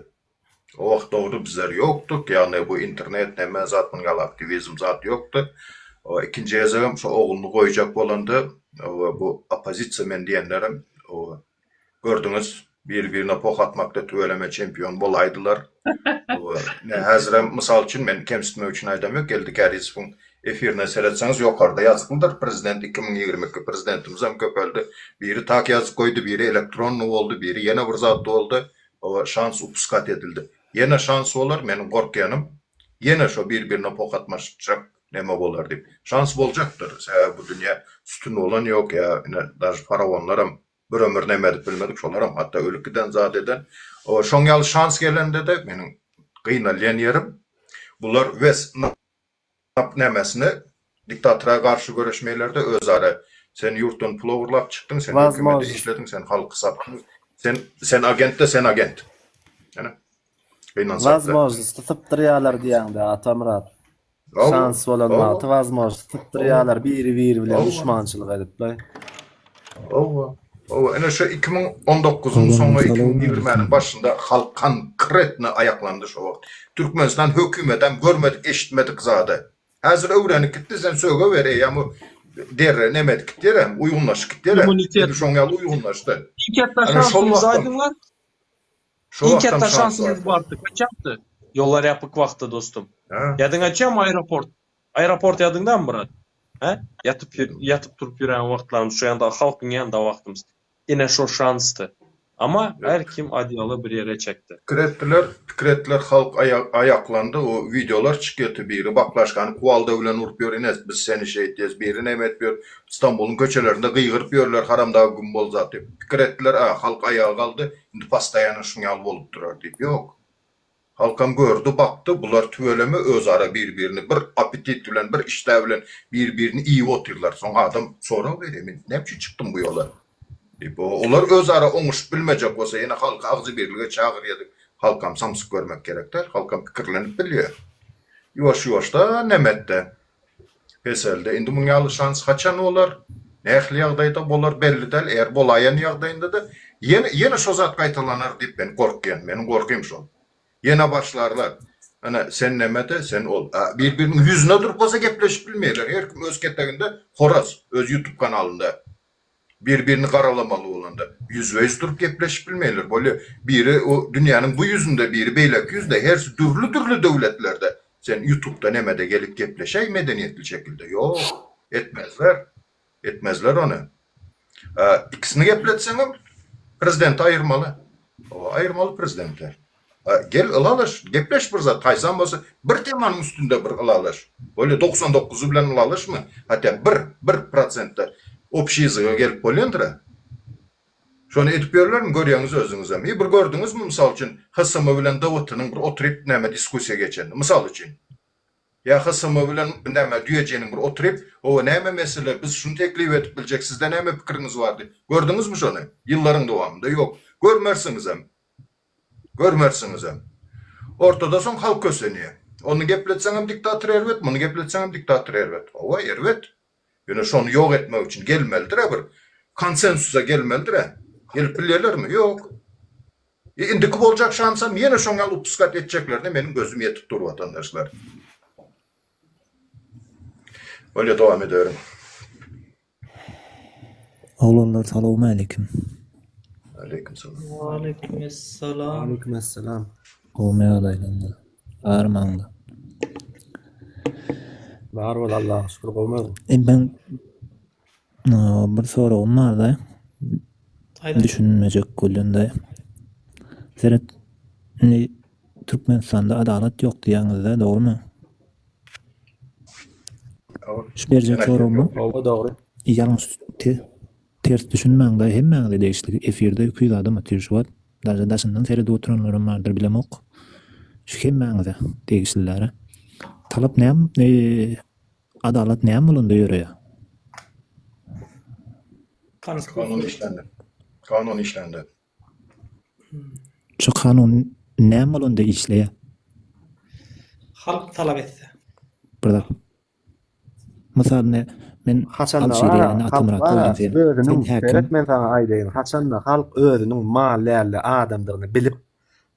O wagt dogry bizler ýokduk, ýagny bu internet neme zat munuň ýaly aktiwizm zat ýokdy. Ikinji gezegem şo ogluny goýjak bolanda bu oppozisiýa men diýenlerem Gördüňiz, biri birine poh atmakda tüweleme çempion bolaýdylar. Ine, häzirem, mysal üçin, men kemsitmek üçin aýdam ýok, Geldi Kärizowyň efirine seretseňiz, ýokarda ýazyklydyr, Prezident iki müň ýigrimi iki, prezidentimizem köpeldi, biri tak ýazyk goýdy, biri elektronny boldy, biri ýene bir zat boldy, oba, şans upuskat edildi. Ýene şans bolar, meniň gorkýanym, ýene şo bir-birine poh atmaşjak Näme bolar diýip. Şans boljakdyr. Sebäbi bu dünýä sütün bolan ýok ýa ine daž faraonlaram bir ömür näme edip bilmedik şolaram hatda ölüp giden zat eden. O şoň ýaly şans gelendede meniň gynalýan ýerim bular wes nap nämesine diktatora garşy göreşmeýlerde özara sen ýurtdan pul ogurlap çykdyň sen hökümede işlediň sen halky satdyň sen sen agentde sen agent. Ene. Wazmožnosti sypdyrýalar diýýäňdä Atamyrat. Şans bolan wagty wazmožnosti sypdyrýalar biri-biri bilen duşmançylyk edip laý. Owa. Owa, ine şu 2019-yň soňy, 2020-niň başynda halk konkretno aýaklandy şo wagt. Türkmenistan hökümetem görmedik, eşitmedik zady. Häzir öwrenip gitdi, sen sögewer, eýýäm bu derrew neme edip gitýär hem, uýgunlaşyp gitýär hem. Immunitet. Edil şoň ýaly uýgunlaşdy. Şiketlaşýan suwuny aýdyňlar. Iň ketde şansymyz bardy. Gaçakdy. Ýollar ýapyk wagtda dostum. Ýadyňy açýamy aeroport. Aeroport ýadyňdamy brat. Hä? Ýatyp ýatyp turup ýören wagtlarymyz şo ýanda halkyň ýanynda wagtymyz. Ine şo şansdy. Ama her kim adýaly bir ýere çekdi. Pikir etdiler, pikir etdiler halk aýaklandy o wideolar çykýarty biri baklaşkany kuwalda bilen urup ýör ines biz seni şeýt diýes biri neme edip ýör Stambulyň köçelerinde gygyryp ýörler haramdag güm bol zat diýip pikir etdiler a halk aýaga galdy Indi postoýanno şuň ýaly bolup durar diýip, ýok. Halkam gördi, bakdy, bular tüweleme özara bir-birini bir appetit bilen, bir işdä bilen bir-birini iýip otyrlar. Soň adam sorag berýär, men näme üçin çykdym bu ýola? diýip. Olar özara oňuşyp bilmejek bolsa, ýene halky agzybirlige çagyrýar diýip, halkam samsyk görmek gerek däl. Halkam pikirlenip bilýär. Ýuwaş-ýuwaşdan näme etdi? Peselde, indi munuň ýaly şans haçan bolar, nähili ýagdaýda bolar belli däl, eger bolaýan ýagdaýynda-da ýene, ýene şo zat gaýtalanar diýip men gorkýan, meniň gorkym şol. Ýene başlarlar, Ana, sen näme-de, sen ol. A bir-biriniň ýüzüne durup bolsa gepleşip bilmeýärler, her kim öz keteginde horaz, öz ýutub kanalynda. Bir birini garalamaly bolanda ýüzbeýüz durup gepleşip bilmeýler. Bolýa biri o dünýäniň bu ýüzünde biri beýleki ýüzde hersi dürli dürli döwletlerde sen ýutupda nämede gelip gepleşäý medeniýetli şekilde ýok etmezler etmezler ony ikisini gepletseňem prezidenti aýyrmaly oba aýyrmaly prezidenti. Gel ylalyş, gepleş bir zat, haýsam bolsa bir temanyň üstünde bir ylalyş. Bolýa doksan dokuz bilen ylalyşma, hatda bir, bir prosentde obşiý yzyga gelip bolýandyr-a. Şony edip ýörlermi, görýäňiz özüňizem. Eý, bir gördüňizmi, mysal üçin, HSM bilen DWT-niň bir oturyp näme diskussiýa geçenini, mysal üçin. Ýa HSM bilen näme düýejiniň bir oturyp, Hawa, näme mesele, biz şuny teklip edip biljek, sizde näme pikiriňiz bar diýip, gördüňizmi şony? Ýyllaryň dowamynda ýok. Görmersiňizem. Görmersiňizem. Ortada soň halk kösenýä. Ony gepletseňem diktator erbet, muny gepletseňem diktator erbet. Hawa, erbet. Ýöne şony ýok etmek üçin gelmelidir-ä bir konsensusa gelmelidir-ä. Gelip bilýärlermi? Ýok. E, indiki boljak şansam ýene şoň ýaly upuskat etjeklerine meniň gözüm ýetip dur, watandaşlar. Bolýa, dowam ederiň. Oglanlar salowmaleýkim. Aleýkum salam. Waleýkum essalam. Waleýkum essalam. Gowmy ýagdaýlaryňyz? Bar maňda. Bar bol Allaha şükür gowmy? E ben bir soragym bar da. Düşünmejek bolýanda. Seret. Türkmenistanda adalat ýok diýýäňizde dogrymy? Şu berjek soragyma Hawa dogry. ýalňyş te ters düşünmäň da hemmäňize degişli efirde iki ýüz adam otyr şu wagt daže daşyndan seredip oturanlaram bardyr bilemok şu hemmäňize degişlilära talap näm adalat näme bolanda ýöreýä. Kanun işlände. Kanun işlände. Şu kanun näme bolanda işleýär? Halk talap etse. Bir zat. Mysal ne men Haçanda özüniň seret men saňa aýdaýyn haçanda halk özüniň mal dälde adamdygyny bilip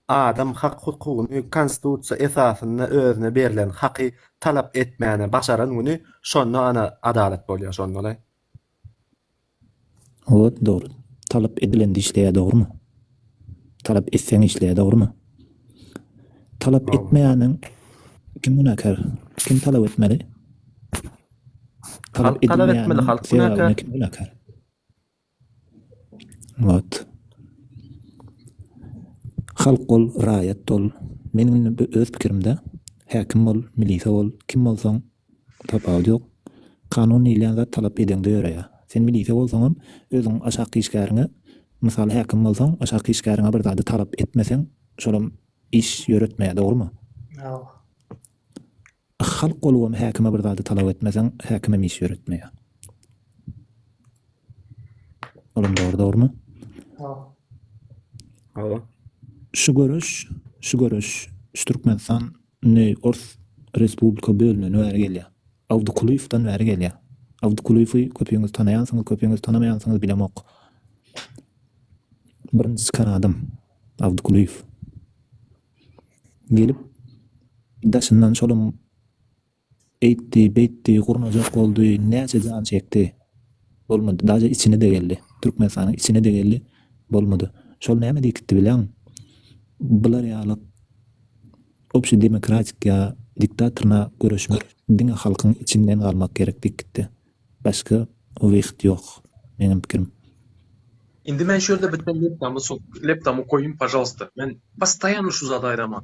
adam hak hukugyny konstitusiýa esasynda özüne berlen haky talap etmäne başaran güni şonda ana adalat bolýar şonda-laý. Owod dogry. Talap edilendi işleýär dogrymy? Talap etseň işleýär dogrymy? Talap etmeýäniň kim günäkär? Kim talap etmeli? Talap edilmeýäniň halk günäkär. Kim günäkär? Owod. Halk bol, raýat bol. Meniň öz pikirimde häkim bol, milise bol, kim bolsaň Tapawut ýok. Kanun diýilýän zat talap edeňde ýöreýär. Sen milisiýa bolsaňam, özüň aşak işgäriňe, mysal häkim bolsaň, aşak işgäriňe bir zady talap etmeseň, şolam iş ýöretmeýär, dogrumy? Hawa. Halk bolubam häkime bir zady talap etmeseň, häkimem iş ýöretmeýär. Olam dogry, dogrumy? Hawa. Hawa. Şu göreş, şu göreş, şu Türkmenistan Indi ors respublika bölünen bäri gelýär. Awdykulyýewden bäri gelýär. Awdykulyýewi köpüňiz tanaýansyňyz, köpüňiz tanamaýansyňyz bilemok. Birinji çykan adam Awdykulyýew. Gelip daşyndan şolam Eýtdi, beýtdi, gurnajak boldy, näçe jan çekdi. Bolmady. Daže içine-de geldi. Türkmenistanyň içine-de geldi. Bolmady. Şol näme diýkitdi bileň? Bular ýaly obşi demokratik ýa diktatorna göreşmek diňe halkyň içinden galmak gerek diýkitdi. Başga wyhyt ýok, meňem pikirim. Indi men şu ýerde biten leptamy sokup, leptamy goýuň, pažalsta. Men postoýanno şu zady aýdaman.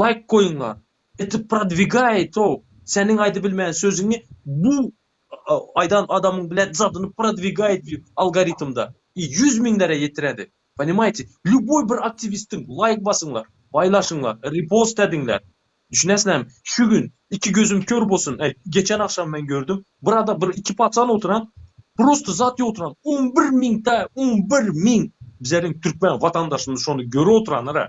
Laýk goýuňlar. Eti prodwigay to seniň aýdybilmän sözüňi bu aýdan adamyň bilen zadyny prodwigayt algoritmda i ýüz miňlere ýetiredi ponimaýti lýuboý bir aktiwistiň laýk basyňlar baýlaşyňlar ripost ediňler düşünesizlermi şu gün iki gözüm kör bolsun e geçen agşam men gördüm bir adam bir iki pacan oturan prosta zat ýok oturan on bir miňta on bir miň bizleriň türkmen watandaşymyz şony göre oturanlara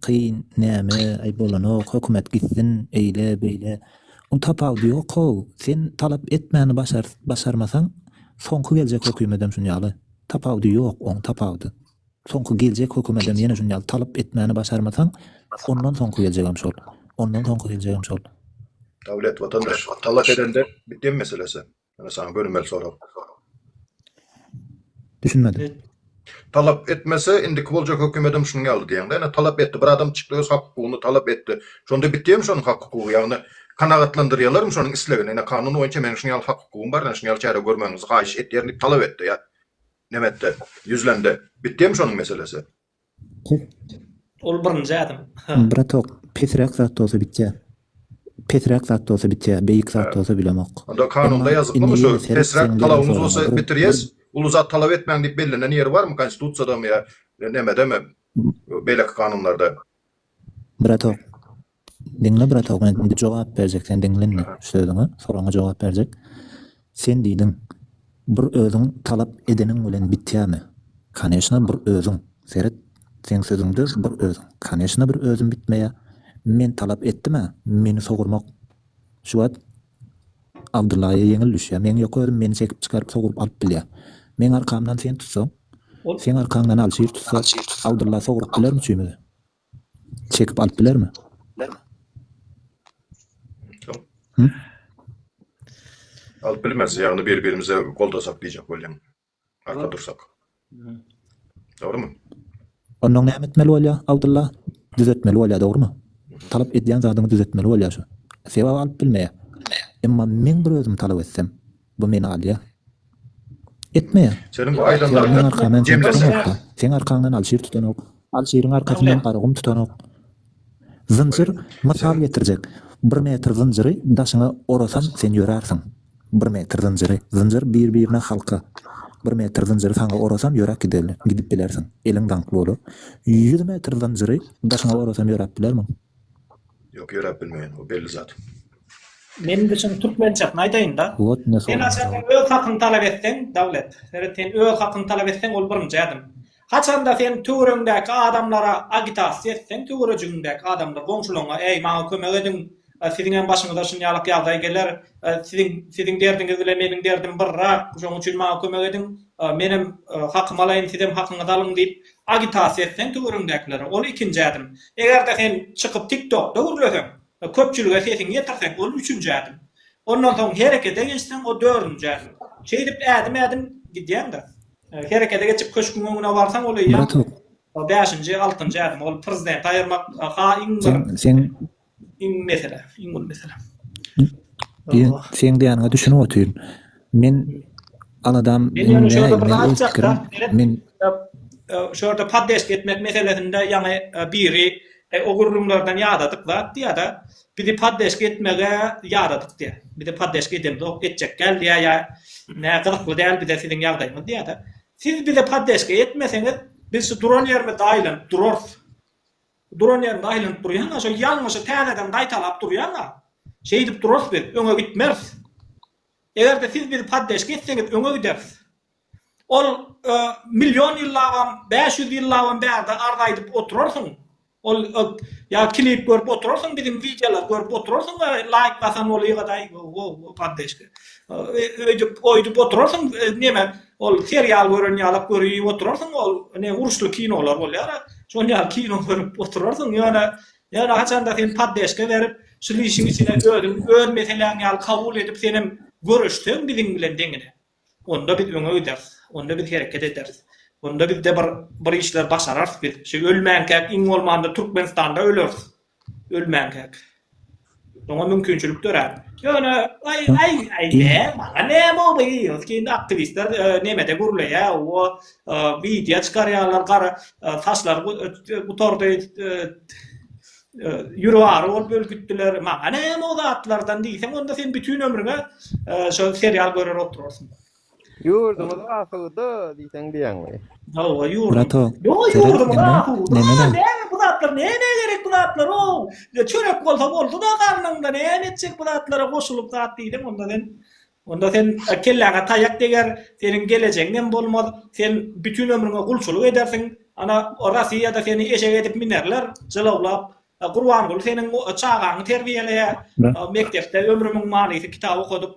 Kyn näme aý bolanok hökümet gitsin eýle beýle un tapawudy ýok how sen talap etmäni başar başarmasaň soňky geljek hökümetem şun ýaly tapawudy ýok oň tapawudy soňky geljek hökümetem ýene şun ýaly talap etmäni başarmasaň ondan soňky geljegem şol ondan soňky geljegem şol. Dawlet watandaş talap edende bir dem meselesi. Ýöne saňa bölünmeli sorag. Düşünmedim. Talap etmese, indiki boljak hökümedim şunuň ýaly diýeňde, ýöne talap etdi. Bir adam çykdy, öz hak-hukugyny talap etdi. Şonda bitýärmi şonuň hak-hukugy? Ýagny, kanagatlandyrýarlarmy şonuň islegini? Ine, kanun boýunça meniň şunuň ýaly hak-hukugym bar, ine, şunuň ýaly çäre görmegiňizi haýyş etýärin diýip talap etdi ýa nemetde, ýüzlendi. Bitýärmi şonuň meselesi? Pest. Ol birinji ädim. Bratok, pesräk zat bolsa bitýär. Pesräk zat bolsa bitýär, beýik zat bolsa bilemok. Onda kanunda ýazyklymy şu pesräk talabyňyz bolsa bitirýäs, uly zat talap etmäň diýip bellenen ýeri barmy konstitusiýadamy ýa nemedemi beýleki kanunlarda? Bratok, Diňle bratow men indi jogap berjek sen diňle indi sözüňe soragyňa jogap berjek sen diýdiň bir özüň talap edeniň bilen bitýämi kaneşna bir özüň seret seň sözüňde bir özüň kaneşna bir özüm bitmeýä men talap etdimä meni sogurmak şu wagt abdyllaýa ýeňil düşýä meň ýok özüm meni çekip çykaryp soguryp alyp bilýä meň arkamdan sen tutsaň seň arkaňdan alşir tutsa abdylla soguryp bilermi çüýmüzi. Çekip alyp bilermi? Hı? Alyp bilmez. Yani bir birimize goldasak diyecek bolyan. Arka dursak. Doğru mu? Ondan ne etmeli bolya Abdullah? Düzetmeli bolya doğru mu? Talap edýän zadyňy düzetmeli bolýar şu. Sebäbi alyp bilmeýär. Emma men bir özüm talap etsem, Bu meni alýa. Etme. Seniň bu aýdanlaryňdan Seň arkaňdan kim tutanok-da? Seň arkaňdan Alşir tutanok. Alşiriň arkasyndan Garagum tutanok. Zynjyr mysal getirjek. Bir metr zynjyry daşyňa orasaň sen ýörärsiň. Bir metr zynjyry. Zynjyr bir-birine halka. Bir metr zynjyry saňa orasam ýöräp giderli. Gidip bilersiň. Eliň daňkly bolar. Ýüz metr zynjyry daşyňa orasam ýöräp bilermiň? Ýok ýöräp bilmeýän. O belli zat. Men de şuny türkmençesini aýdaýynda. Sen haçanda öz hakyňy talap etseň, Dawlet, seret sen öz hakyňy talap etseň ol birinji ädim. Haçanda sen töweregiňdäki adamlara agitasiýa etseň, töwerejigiňdäki adamlar, goňşularyňa, äý, maňa kömek ediň, siziň hem başyňyza şunýalak ýagdaý geler, siziň siziň derdiňiz bilen meniň derdim birrak, şonuň üçin maňa kömek ediň, men hem hakymy alaýyn, siz hem hakyňyzy alyň diýip agitasiýa etseň töweregiňdäkilere, ol ikinji ädim. Eger-de sen çykyp TikTokda gürleseň, Köpçülige sesiňi ýetirseň, ol üçünji ädim. Ondan soň herekete geçseň, o dördünji ädim. Şeýdip ädim-ädim gidýäň-de. Herekete geçip köşgüň öňüne barsaň, ol eýýäm bäşinji, altynjy ädim. Ol prezidenti aýyrmak ha iň bir, iň mesele, iň uly mesele. Seň diýýäniňe düşünip otyryn. Men aladam Men ýöne şu ýerde bir zat aýtjakda, men şu ýerde poddeşka etmek meselesinde ýaňy biri o gürrüňlerden ýadadyk zat diýýäda, bizi poddeşka etmege ýadadyk diýýä. Bizi poddeşka edemzok, etjek däl diýýä ýa nä gyzykly däl bize siziň ýagdaýyňyz diýýäda. Siz bize poddeşka etmeseňiz, biz şu duran ýerimizde aýlanyp durarys. Duran ýerimizde aýlanyp durýan-a, şol ýalňyşy täzeden gaýtalap durýan-a. Şeýdip durarys biz, öňe gitmeris. Eger-de siz bizi poddeşka etseňiz öňe gideris. Ol million ýyllabam, bäş ýüz ýyllabam bärde arz aýdyp oturarsyň. Ol ýa klip görüp oturarsyň biziň wideolary görüp oturarsyň we laýk basan bolýgadaý poddeşka. Öýdüp oýdup oturarsyň neme ol serial gören ýalak görüp oturarsyň ol ne uruşly kinolar bolýar-a şol ýaly kino görüp oturarsyň ýöne Ýöne haçanda sen poddeşka berip, şul işiň içine özüň öz meseläň ýaly kabul edip senem göreşseň biziň bilen deňine, onda biz öňe gideris, onda biz hereket ederis, onda bizde bir bir işler başararys biz, şu ölmänkäk iň bolmanda Türkmenistanda öleris, ölmänkäk. Oňa mümkinçilik dörär. Ýöne aý aý aý ne maňa ne boldy ýygy indi aktiwistler e, nemede gürleýä o e, wideo çykarýarlar gara e, saçlar gutardy ýüregi ary bolup öl gitdiler maňa ne o zatlardan diýseň onda sen bütün ömrüňe şo serial görer oturarsyň Ýurduňyz asuda diýseň diýýäňmi? Hawa ýurdum. Brato, Ýo tere ýurdumyz ene asuda neme da? näme bu zatlar nämä gerek bu zatlarow? Ýa çörek bolsa bolduda garnyňda näme etjek bu zatlara goşulyp zat diýseň onda sen onda sen kelläňe taýak deger seniň gelejegiňem bolmaz sen bütin ömrüňe gulçulyk edersiň ana Rasiýada seni eşek edip minerler jylawlap Gurbanguly seniň çagaňy terbiýeleýär Brat. mekdepde ömrümiň manysy kitap okadyp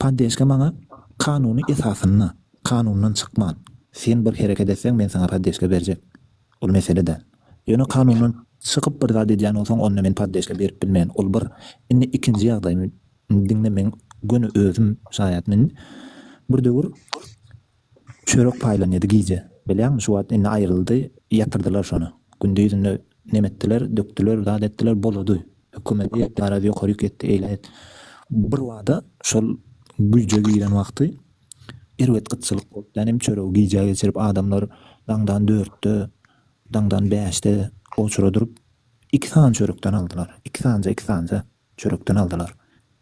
Poddeşka maňa kanuny esasynda, kanundan çykman, sen bir hereket etseň men saňa poddeşka berjek. Ol mesele däl. Ýöne kanundan çykyp bir zat edýän bolsaň onda men poddeşka berip bilmen. Ol bir. Indi ikinji ýagdaý. Diňle meň göni özüm şaýat. Men bir döwür. Çörek paýlanýady gije. Bilýäňmi, şu wagt indi aýryldy, ýatyrdylar şony. Gündizinde nem etdiler, dökdüler, zat etdiler, bolady. Hökümeti garaz ýokary ýük etdi, eýle et. Birbada şol güýje giren wagty erbet gytçylyk bolup, ýanem çöregi gijä geçirip, adamlar daňdan dörtde, daňdan bäşde oçura durup, iki san çörekden aldylar. Iki sanja, iki sanja çörekden aldylar.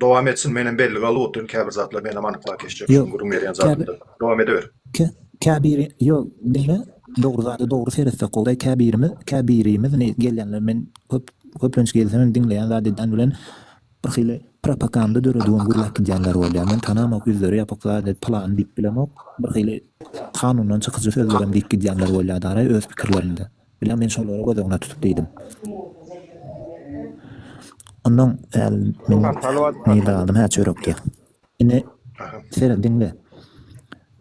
Dowam etsin menem bellige alyp otyryn käbir zatlar menem anyklap geçjek şu gürrüň berýän zadymda dowam edeber. Käbiri ýok diňe dogry zada dogry seretsek gowudaý käbirimiz käbirimiz ne gelýänler men köp köplenç gelsem diňleýän zat edan bilen birhili propakanda dörediwem gürläp gidýänler bolýa men tanamok ýüzleri ýapyk zat et pylany diýip bilemok birhili kanundan çykyjy sözlerem diýip gidýänler bolýa daraý öz pikirlerinde. Bilýän, men şolary göz öňüne tutup diýdim. Ondan äl meniň nirdaladym hä çörekdi. Ine, seret, diňle.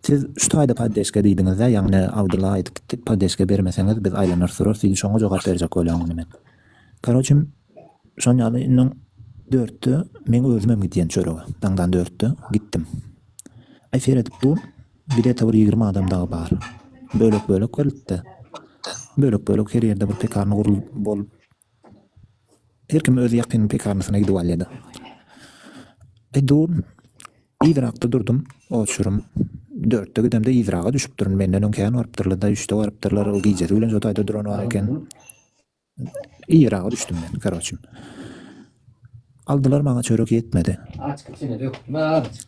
Siz şu taýda poddeşka diýdiňiz-dä, ýagny Abdylla aýdyp gitdik, poddeşka bermeseňiz biz aýlanar surarys diýdi, şoňa jogap berjek bolýan indi men. Karoçe, şon ýaly indi dörtde meň özümem gidýän çörege, daňdan dörtde gitdim. Aý, seret, bu Bilete bir ýigrimi adam dagy bar. Bölek bölek berilipdi. Bölek bölek her ýerde bir pekarna gurlup bolup. Her kim öz ýakyn pekarnasyna gidip alýady. E dur. Yzrakda durdum. Oçurym. Dörtde gidemde yzraga düşüpdirin. Menden öň kän barypdyrlada. Üçde barypdyrlar. Ol gijesi bilen şo taýda duran bar eken. Yraga düşdüm men karoçim. Aldylar maňa çörek ýetmedi. Açyk içine dökme azjyk.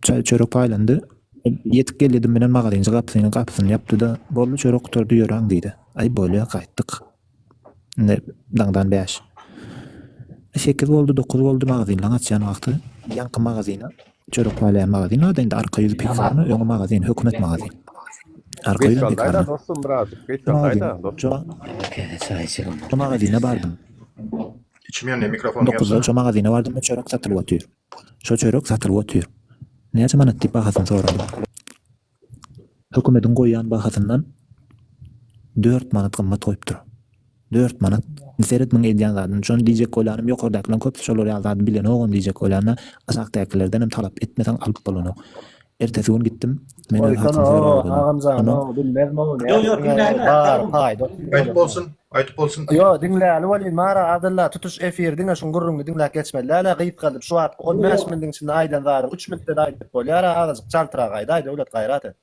Çay çörek paýlandy. Ýetip geldim menen magazynçy gapysyny gapysyny ýapdy-da, boldy çörek gutardy ýöräň diýdi. Aý bolýa gaýtdyk. Indi daňdan bäş. Sekiz boldy, dokuz boldy magazynlaň açýan wagty ýaňky magazyna Çörek wale magazin ady indi arka ýüzi pekarna öňi magazin hökümet magazin. Arka Geç ýüzem galdaýda pekarna. dostum birazjyk geç Şu magazin galdaýda dostum. şu Käte çaý içelim. şu magazine bardym. Içim ýanyny mikrofon Dokuzda ýansana. şu magazine bardym çörek satylyp otyr. Şu çörek satylyp otyr. Näçe manat diýip bahasyny sorandym. Hökümediň goýýan bahasyndan dört manat gymmat goýupdyr. Dört manat. Indi seret muň edýän zadyny. Şony diýjek bolýanym ýokardakylaň köpüsi şolar ýaly zady bilenogam diýjek bolýanda aşakdakylerdenem talap etmeseň alyp bolanok. Ertesi gün gitdim. Meni hatyn soraga goýdy. Onam. Ýok ýok bilmän. Gaýyp bolsun. Aýdyp bolsun diý. Ýo diňläli bolýn Mara Abdylla tutuş efir diňe şuň gürrüňini diňläp geçmeli dälä gysgaldyp şu wagtky on bäş mintiň içinde aýdan zady üç mintde-de aýdyp bolýara azajyk çaltrak aýdaý Döwlet gaýrat et.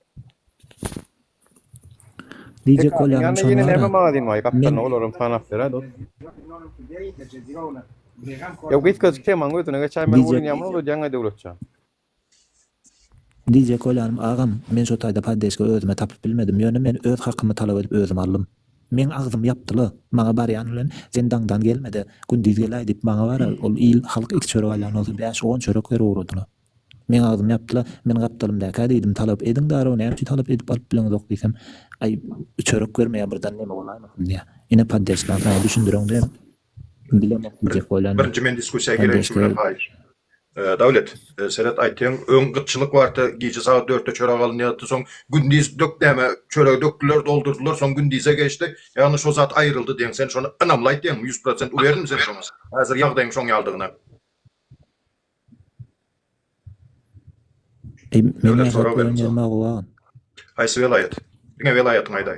Diýjek bolýanym şony wara men olaram sanap berä dos. Ýa gysgajyk temaň özüne geçäýmeli bolýyn ýa muny uzadýaňaý Döwletjan. Diýjek bolýanym agam, men şu taýda poddeşka özüme tapyp bilmedim, ýöne men öz hakymy talap edip özüm aldym. Meň agzymy ýapdyla. Maňa barýan bilen sen daňdan gelmede, gündiz geläý diýip maňa bara ol il, halk iki çörek alýan bolsa bäş, on çörek berip ugradyla. Meň agzym ýapdyla, men gapdalymdäkä diýdim, talap ediň darow, näme üçin talap edip alyp bileňizok diýsem, aý, çörek bermeýär birden neme bolaýmasyn diýýär. Ine poddeşkaň haýy düşündiriň-de, bilemok diýjek bolýan men. Birinji men diskussiýa gireýşim bilen haýyş. Dawlet, seret aýtýan, öň gytçylyk bardy, gije sagat dörtde çörek alynýardy, soň gündiz dök näme, çöregi dökdüler, doldurdylar, soň gündize geçdi, ýagny şo zat aýryldy diýen, sen şony ynamly aýtýaňmy, ýüz prosent uwerynmy sen şoňa, häzir ýagdaýyň şoň ýalydygyna? Döwlet sorag bermse. Haýsy welaýat? Diňe welaýatyňy aýdaý.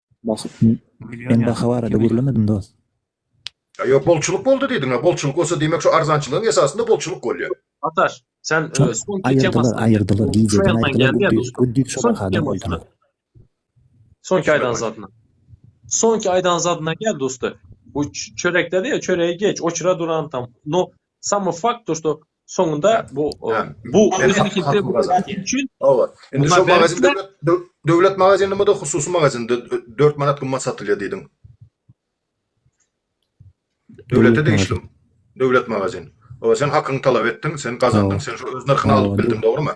Men baha barada gürlemedim dost. Ýok bolçulyk boldy diýdiňä bolçulyk bolsa diýmek şu arzançylygyň esasynda bolçulyk bolýa. Ataş sen aýyrdylar aýyrdylar gijeden aýyrdylar guddis şo bahada goýdular. Soňky aýdan zadyna. Soňky aýdan zadyna gel dosty. Bu çörekde diýe çöregi geç oçura duran tam. No samo fakt to što Soňunda bu bu üçin indi şu magazinde döwlet magazini bu da hususy magazinde 4 manat gymmat satylýar diýdiň. Döwlete degişli. Döwlet magazini. O sen hakyňy talap etdiň, sen gazandyň, sen şu öz nyrhyny alyp bildiň, dogrumy?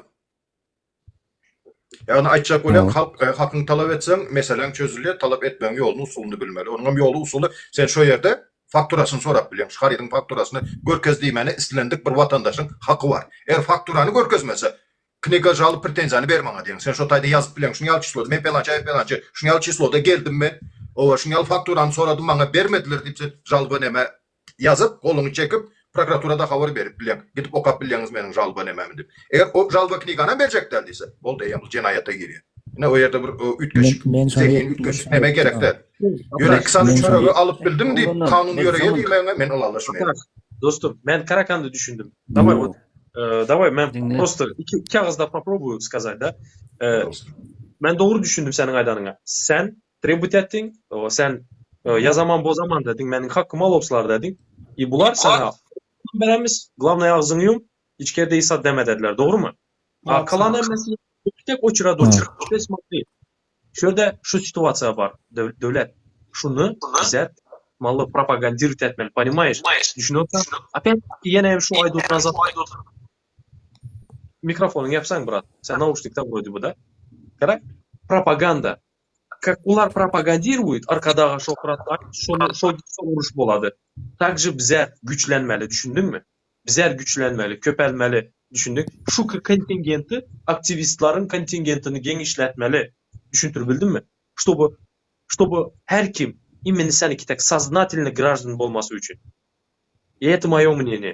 Ýagny aýtjak bolýan halk hakyňy talap etseň meseleň çözülýär talap etmegiň ýoluny usulyny bilmeli onuňam ýoly usuly sen şo ýerde fakturasyny sorap bilýäň şu harydyň fakturasyny görkez diýmäne islendik bir watandaşyň haky bar eger fakturany görkezmese kniga žalyp pretenziýany ber maňa diýeň sen şo taýda ýazyp bilýäň şuny ýaly çysloda men pelançy aý pelançy şuny ýaly çysloda geldim men oba şuny ýaly fakturany soradym maňa bermediler diýip sen žalba näme ýazyp, goluňy çekip, prokuraturada habar berip bileň, gidip okap bilýäňiz meniň žalba nemämi diýip. Eger o žalba kniganam berjek däl diýse, boldy, eýýäm bul jenaýata girýär. Ine, o ýerde bir üýtgeşik, zehin üýtgeşik neme gerek däl. Ýöne iki sany çöregi alyp bildim diýip, kanun ýöreýär diýmegiňe men ylalaşmaýaryn. Dostum, men karakanda düşündim. Dawaý, wot, dawaý, men prosto iki agyzda poprobuýu skazat-da. Men dogry düşündim seniň aýdanyňa. Sen Trebut etdiň, sen ýazaman bozaman dediň, meniň hakymy alawçylar dediň. E bular sana beremiz, glavnaý agzyňy ýum, içkerde hiç zat deme dediler, dogrumy? A kalan hemmesi tek oçura doçur. Bes mokly. Şu ýerde şu situasiýa bar, döwlet. Şuny bize maly propagandirowat etmeli, ponimaýeş? Düşünýärsiň? Opet ýene hem şu aýdyp oturan zat. Mikrofonyňy ýapsaň, brat. Sen nauşnikde goýdy bu-da. Gara, propaganda. Kak olar propagadiruýt arkadaga şohrat aýt şony şol gitse uruş bolady takže bizar güýçlenmeli düşündiňmi bizar güýçlenmeli köpelmeli düşündiň şu kontingenti aktiwistleriň kontingentini geňişletmeli düşündir bildimmi ştoby ştoby her kim imeni seniki tak saznatelni graždan bolmasy üçin et moýo mneniýe.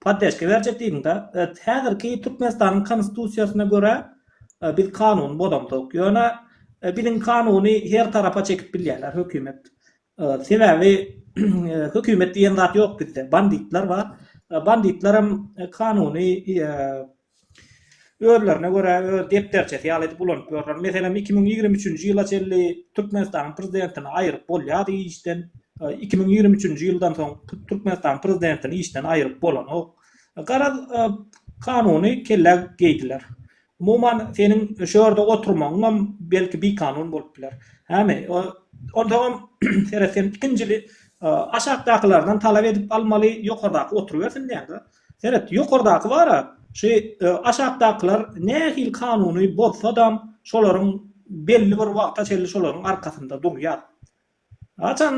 Poddeshka berjek diýdiňda, häzirki Türkmenistanyň Konstitusiýasyna görä biz kanuny bozamzok. Ýöne biziň kanuny her tarapa çekip bilýärler hökümet. Sebäbi hökümet diýen zat ýok bizde. Banditler bar. Banditler hem kanuny özlerine görä öz depderçesi ýaly edip ulanyp ýörler. Meselem, iki müň ýigrimi üçünji ýyla çenli Türkmenistanyň prezidentini aýryp bolýardy işden, iki müň ýigrimi üçünji ýyldan soň Türkmenistanyň prezidentini işden aýryp bolanok. Garaz, kanuny kellä geýdiler. Umuman, seniň şu ýerde oturmagyňam belki bikanun bolup biler. Hämi, onsoňam seret, sen ikinjili aşakdakylardan talap edip almaly, ýokardaky oturybersin diýýäň-dä. Seret, ýokardaky bar-a, şu aşakdakylar nähili kanuny bozsa-dam, şolaryň belli bir wagta çenli şolaryň arkasynda durýar. Haçan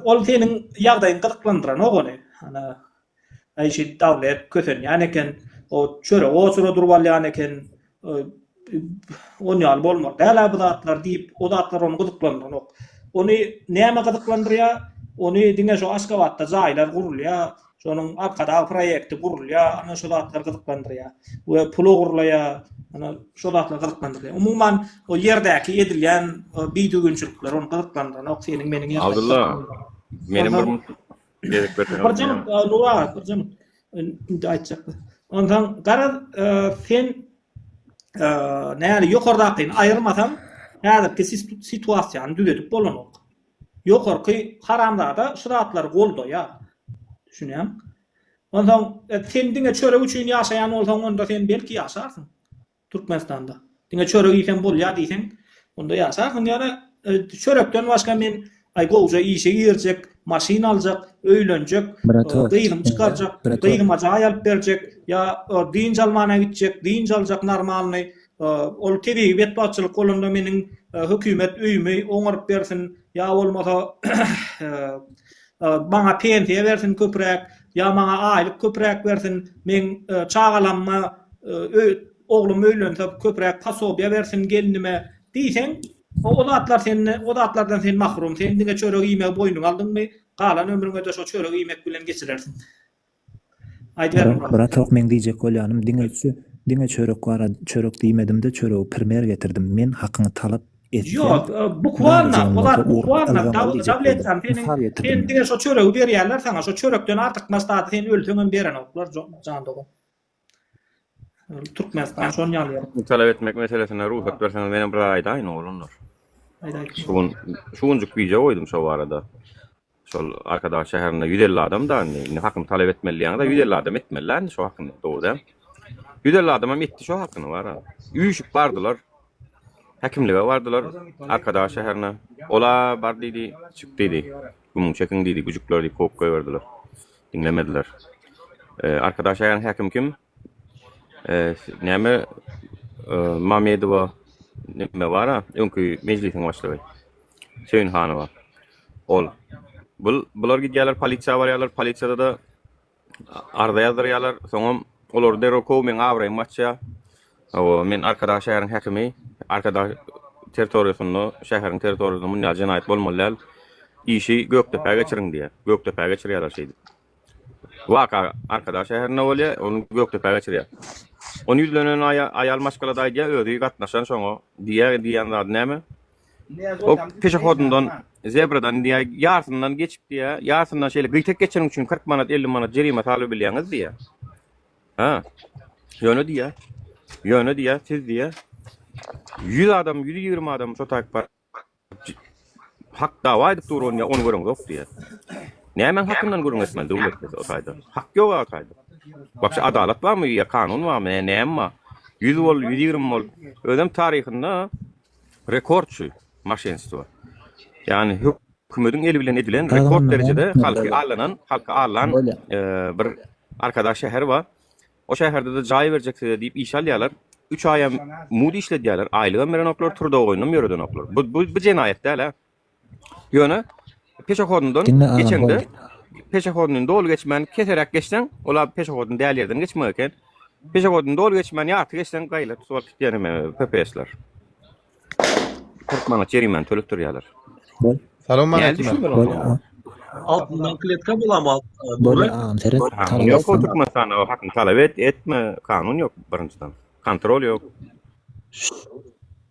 ol seniň ýagdaýyňy gyzyklandyranok ony. Ana, Aýşit dawlet kösenýän eken, o çöregi oçura durup alýan eken, Ony ýaly bolmaly däl-ä bu zatlar diýip, o zatlar ony gyzyklandyranok. Ony näme gyzyklandyrýar? Ony diňe şu Aşgabatda jaýlar gurulýar, şonuň Arkadag proýekti gurulýar, ana şu zatlar gyzyklandyrýar we pula gurulaýar, ana şu zatlar gyzyklandyrýar. Umuman, o ýerdäki edilýän bidüzgünçilikler ony gyzyklandyranok, seniň meniň ýerdäki. Abdylla, meniň bir Birjant Nura, birjant indi aýtjakda. Ondan garaz sen näli ýokardakyny aýyrmasaň, häzirki situasiýany düzedip bolanok. Ýokarky haramzada şu zatlary goldaýar. Düşünýäň? Ondan sen diňe çörek üçin ýaşaýan bolsaň, onda sen belki ýaşarsyň. Türkmenistanda. Diňe çörek iýsem bolýar diýseň, onda ýaşarsyň ýöne çörekden başga men aý gowja işe girjek, maşyn aljak, öýlenjek, gyzymy çykarjak, gyzyma jaý alyp berjek, ýa dynç almana gitjek, dynç aljak normalny, ol tebigy betbagtçylyk bolanda meniň hökümet öýümi oňaryp bersin, ýa bolmasa Maňa pensiýa bersin köpüräk, ýa maňa aýlyk köpüräk bersin, meň çagalamma oglum öýlense köpüräk posobiýa bersin gelnime diýseň, o zatlar sende, o zatlardan sen mahrum, sen diňe çörek iýmegi boýnuňa aldyňmy, galan ömrüňede şo çörek iýmek bilen geçirersiň. Brat hok meň diýjek bolýanym diňe şu diňe çörek bar çörek diýmedimde çöregi primer getirdim men hakyňy talap etýän Ýok bukwarna polat bukwarna dabletany seniň sen diňe şo çöregi berýärler saňa şo çörekden artyk maslahaty sen ölseňem berenoklar jan dogan. Türkmenistan şon ýaly ýaly. Talap etmek meselesine ruhsat berseňiz menem bir aýdaýyn oglanlar. Aýdaýyn. Şu gün şu günjük wideo goýdum şo barada. Şol Arkadag şäherinde 150 adam da indi. Indi hakyny talap etmeli ýaňda 150 adam etmeli lan şo hakyny. Dogry. 150 adam hem etdi şo hakyny bar. Üýşüp bardylar. Häkimlige bardylar. Arkadag şäherine. Ola bar diýdi, çyk diýdi. Gümüň çekin diýdi, güjükler diýip kok goýberdiler. Diňlemediler. Arkadaş aýan häkim kim? Näme Mamedowa näme bar-a? Öňki mejlisiň başlygy. Söýünhanowa. Ol. Bu bular gidýärler polisiýa barýarlar, polisiýada da arza ýazdyrýarlar, soňam olar derrew kow meň abraýym açýar. Hawa, men Arkadag şäheriň häkimi, Arkadag territoriýasynda, şäheriň territoriýasynda munýaly jenaýat bolmaly däl, işi Gökdepä geçiriň diýýär. Gökdepä geçirýärler şeýdip. Waka Arkadag şäherinde bolýar, ony Gökdepä geçirýär. Ony ýüzlenen aýal maşgalada aýdýar, özi gatnaşan şoňa, diýýär, diýýän zady näme? O peşehodundan, zebradan diýýär, ýarsyndan geçip diýýär, ýarsyndan şeýle gyýtak geçiriň üçin kyrk manat, elli manat jerime salybilýäňiz diýýär. Hä? Ýöne diýýär. Ýöne diýýär, siz diýýär, ýüz adam, ýüz ýigrimi adam şo taýyp bar. Hak dawa edip dur, ony ony göreňzok diýýär. Nämäň hakyndan gürrüň etmeli döwlet bize o taýda? Hak ýog-a o taýda. Wapşe adalat barmy ýa kanun barmy, näme bar? Ýüz bol, ýüz ýigrimi bol. Özem taryhynda Rekordçy maşenstwo. Ýagny hökümediň eli bilen edilen rekord derejede halky allanan, halky allan bir arkadag şäher bar. O şäherde-de jaý berjek size diýip işe alýarlar. Üç aýam mudy işledýärler, aýlygam berenoklar, turda oýnam ýöredenoklar. Bu bu jenaýat däl-ä. Ýöne peşehodundan Diňe alan geçeňde, boldy. peşehoduny doly geçmän keseräk geçseň, ol abi peşehodun däl ýerden geçmek eken. Peşehoduny doly geçmän ýarty geçseň gaýla tutup alyp gitýär neme PPS-ler. 40 manat jerimäni töletdirýärler. Salam Nädip aleyküm. düşünmeli Bol onda? a- Altyndan kletka bolama. bol agam seret. Kanun talap ýok o etsin. Türkmenistanda o hakyny talap et, etme. Kanun ýok birinjiden. Kontrol ýok.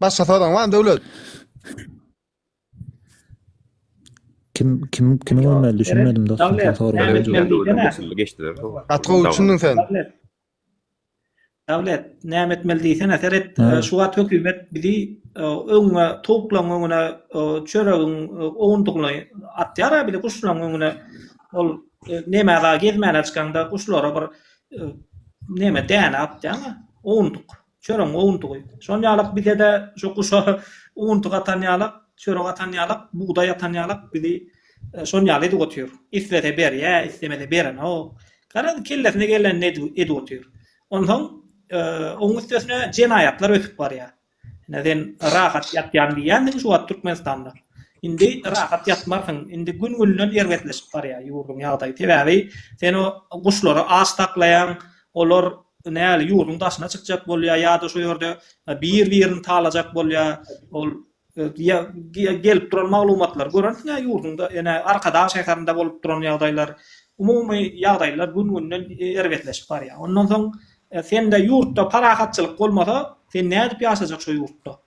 Başga soraň bar Döwlet? Kim kim kimi görmeli düşünmedim dostum. Dawlet, Sen sorga dawlet, jogap. dawlet. Usully geçdiler. Gaty gowy düşündin sen. Dawlet. Dawlet, näme etmeli diýsene seret. Ha. e, Şu wagt hökümet bizi e, öňüňe towuklaryň öňüne e, çöregiň e, owundygyny atýar ha bile guşlaryň öňüne. Ol e, näme aga gezmäne çykanda guşlara bir Näme däne atýaňa? Owuntyk. Çöregiň owuntygy. Şol ýalak bize-de şu guşa owuntyk atan ýalak, çörek atan ýalak, bugdaý atan ýalak bizi şol ýaly edip otyr. Islese berýä, islemese berenok. Garaz, kellesine gelenini edip otyr. Onsoň oň üstesine jenaýatlar ösüp barýar. Ine sen rahat ýatýan diýýändiň şu wagt Türkmenistanda. Indi rahat ýatmarsyň. Indi gün günden erbetleşip barýar ýurduň ýagdaýy. Sebäbi sen o guşlary aç saklaýaň. Olar näl ýurduň daşyna çykjak bolýar ýa-da şu ýerde bir birini talajak bolýar. Ol gelip duran maglumatlary görensiňä ýurduňda ene Arkadag şäherinde bolup duran ýagdaýlar umumy ýagdaýlar gün günden erbetleşip barýar. Ondan soň Sende ýurtda parahatçylyk bolmasa, sen nädip ýaşajak şo ýurtda?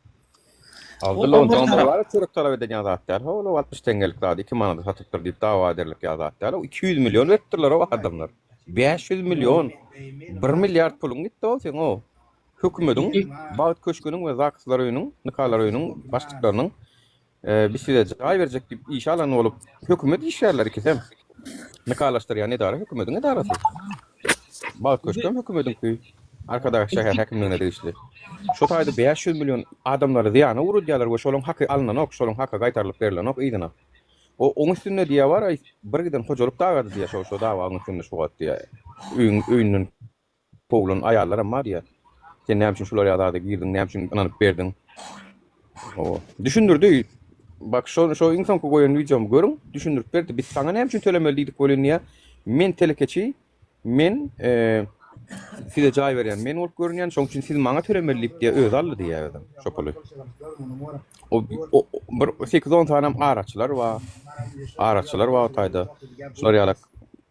Abdylla ondan soň bir zat çörek talap eden zat däl ho ol altmyş teňňelik zady iki manada satypdyr diýip dawa ederlik ýa zat däl o iki ýüz million beripdirler ho adamlar bäş ýüz million bir milliard puluň gitdi ho seň ho hökümediň bagt köşgüniň we zakslar öýüniň nikalar öýüniň başlyklarynyň Biz size jaý berjek diýip işe alan bolup, hökümet işgärleri ikisem. Nikalaşdyrýan edara hökümetiň edarasy. Bagt köşkem hökümetiňki. Arkadag şäher häkimligine degişli. Şu taýda bäş ýüz million adamlary zyýana ugradýarlar we şolaň haky alnanok, şolaň haky gaýtarylyp berilenok yzyna. O oň üstünde diýýär bar-aý, bir giden hojalyk dagady diýýär şo-şo dawaň üstünde şu wagt diýýär. Öýüň öýünden Kowulan aýallaram bar diýýär. Sen näme üçin şular ýaly zada girdiň, näme üçin ynanyp berdiň? Hawa. Düşündirdi. Bak şo şo iň soňky goýan wideomy görüň. Düşündirip berdi. Biz saňa näme üçin tölemeli diýdik welin diýýär. Men telekeçi. Men size jaý berýän men bolup görünýän. Şonuň üçin siz maňa tölemeli diýip diýýär. Özi aldy diýýär özem şo puly. O bir sekiz-on sanem araçylar bar. Araçylar bar o taýda. Şular ýalak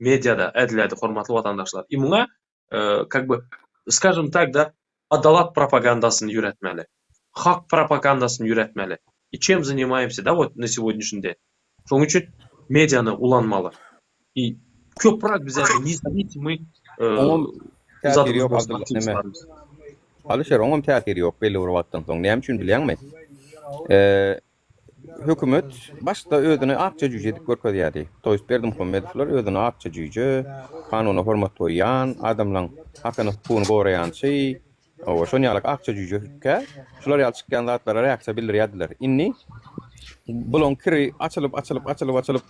Mediada ädilýärdi hormatly watandaşlar. I muňa kak by skažem tak da adalat propagandasyny ýöretmeli. Hak propagandasyny ýöretmeli. I çem zanymaýmsy da wot na segodnyşny den. Şonuň üçin mediany ulanmaly. I köprak bize nizavisimuý Oňam täsiri ýok Abdylla neme. Alyşer oňam täsiri ýok belli bir wagtdan soň. Näme üçin bilýäňmi? hökümet başda özüni akja jüýje edip görkezýärdi. To jest Berdimuhamedowlar özüni akja jüýje, kanuna hormat goýýan, adamlaň hakyny hukugyny goraýançy, oba şon ýalak akja jüýje kä, şular ýaly çykýan zatlara reaksiýa bildirýärdiler. Indi bulaň kiri açylyp açylyp açylyp açylyp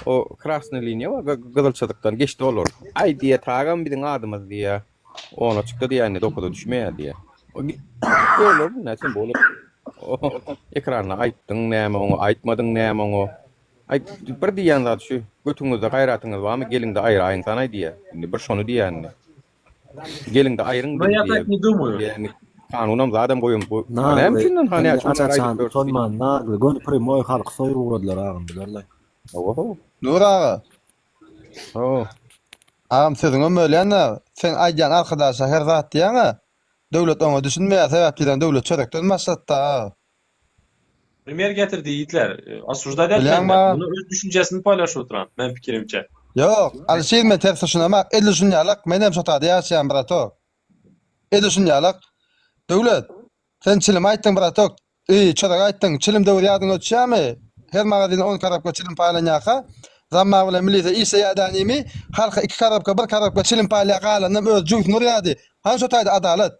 o krasnyý liniýa bar, gyzyl çyzykdan geçdi olar. Aý diýýä tagam biziň adymyz diýýä. Ona çykdy diýende dokuza düşmeýär diýýär. Görüler näçem bolup. Ekranda aýtdyň näme oňa aýtmadyň näme oňa. Aý bir diýýän zat şu götüňizde gaýratyňyz barmy geliňde aýraýyň sanaý diýýär. Indi bir şony diýýän indi. Geliňde aýryň bizi diýýär. Kanunam zadam goýum bu. Näme üçin onda näme üçin aýdyp ýörsiň. Tonman nagly göni primoý halky soýup ugradylar agam bilerler. Hawa hawa. Nur aga. Sag. Agam sözüňem bölýän-ä, seň aýdýan arkadaşa her zat diýýäň-ä, döwlet oňa düşünmeýär, sebäp diýseň döwlet çörekden başlatdy-a aga. Primer getirdi ýigitler. Osuždaýt etmeli men. Muny öz düşünjesini poýlaşyp oturan, men pikirimçe. Ýok, Alişir men ters düşünemok, edil şun ýalak, menem şotada ýaşaýan bratok. Edil şun ýalak. Döwlet, sen çilimi aýtdyň bratok, Eý, çyzyk aýtdyň, çilim döwri ýadyňa düşýärmi? Her magazine on karabka çilim paýlanýarka, zamma bilen milise işleýär dänemi? Halka iki karabka, bir karabka çilim paýlaýar, galanynam özi jübüsini urýardy. Hany şo taýda adalat?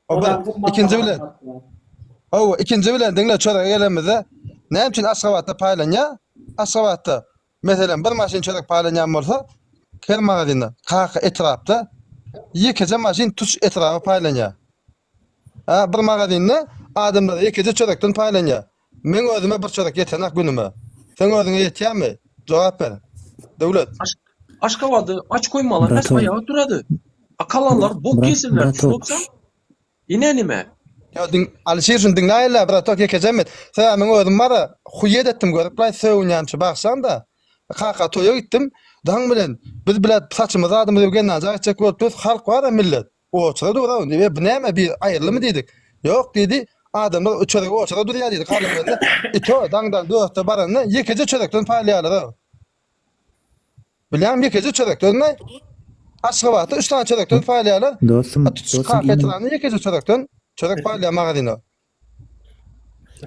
O bir. Ikinji bilen. Hawa, ikinji bilen, diňle, çörege gelenimizde, näme üçin Aşgabatda paýlanýar? Aşgabatda, meselem, bir maşyn çörek paýlanýan bolsa, her magazinde, kaka etrapda ýekeje maşyn tutuş etraba paýlanýar. Hä, bir magazinde adamlar ikide çörekden paýlanýar. Meň özüme bir çörek ýetenok günüme. Seň özüňe ýetýärmi? Jogap ber. Döwlet. Aşgabady aç goýmalar nes aýaga turady. Akalanlar bok ýesinler şuwagtçam. Ine nime. Ýa diň Alyşir şuny diňläýinlä bratok ýekejem et. Sebäbi meň özüm bara huýýet etdim görüpläý sögünýänçä bagşaňda. Kaka toýa gitdim. Daň bilen biz bile saçymyzy adymyzy öwgenäjä gitjek bolupdyrys halk bara millet. Oçara duraw diýip, bu näme bir aýyrlymy diýdik. Ýok diýdi, adamlar üçergi oçara durýar diýdi Garlygeldi. Ito daňdan dörtde baranda ýekeje çörekden paýlaýarlar-a. Bilýäňmi, ýekeje çörekden we Aşgabatda üç sany çörekden paýlaýarlar. Dostum, dostum, indi. Kafe-restoranda ýekeje çörekden çörek paýlaýar magazine.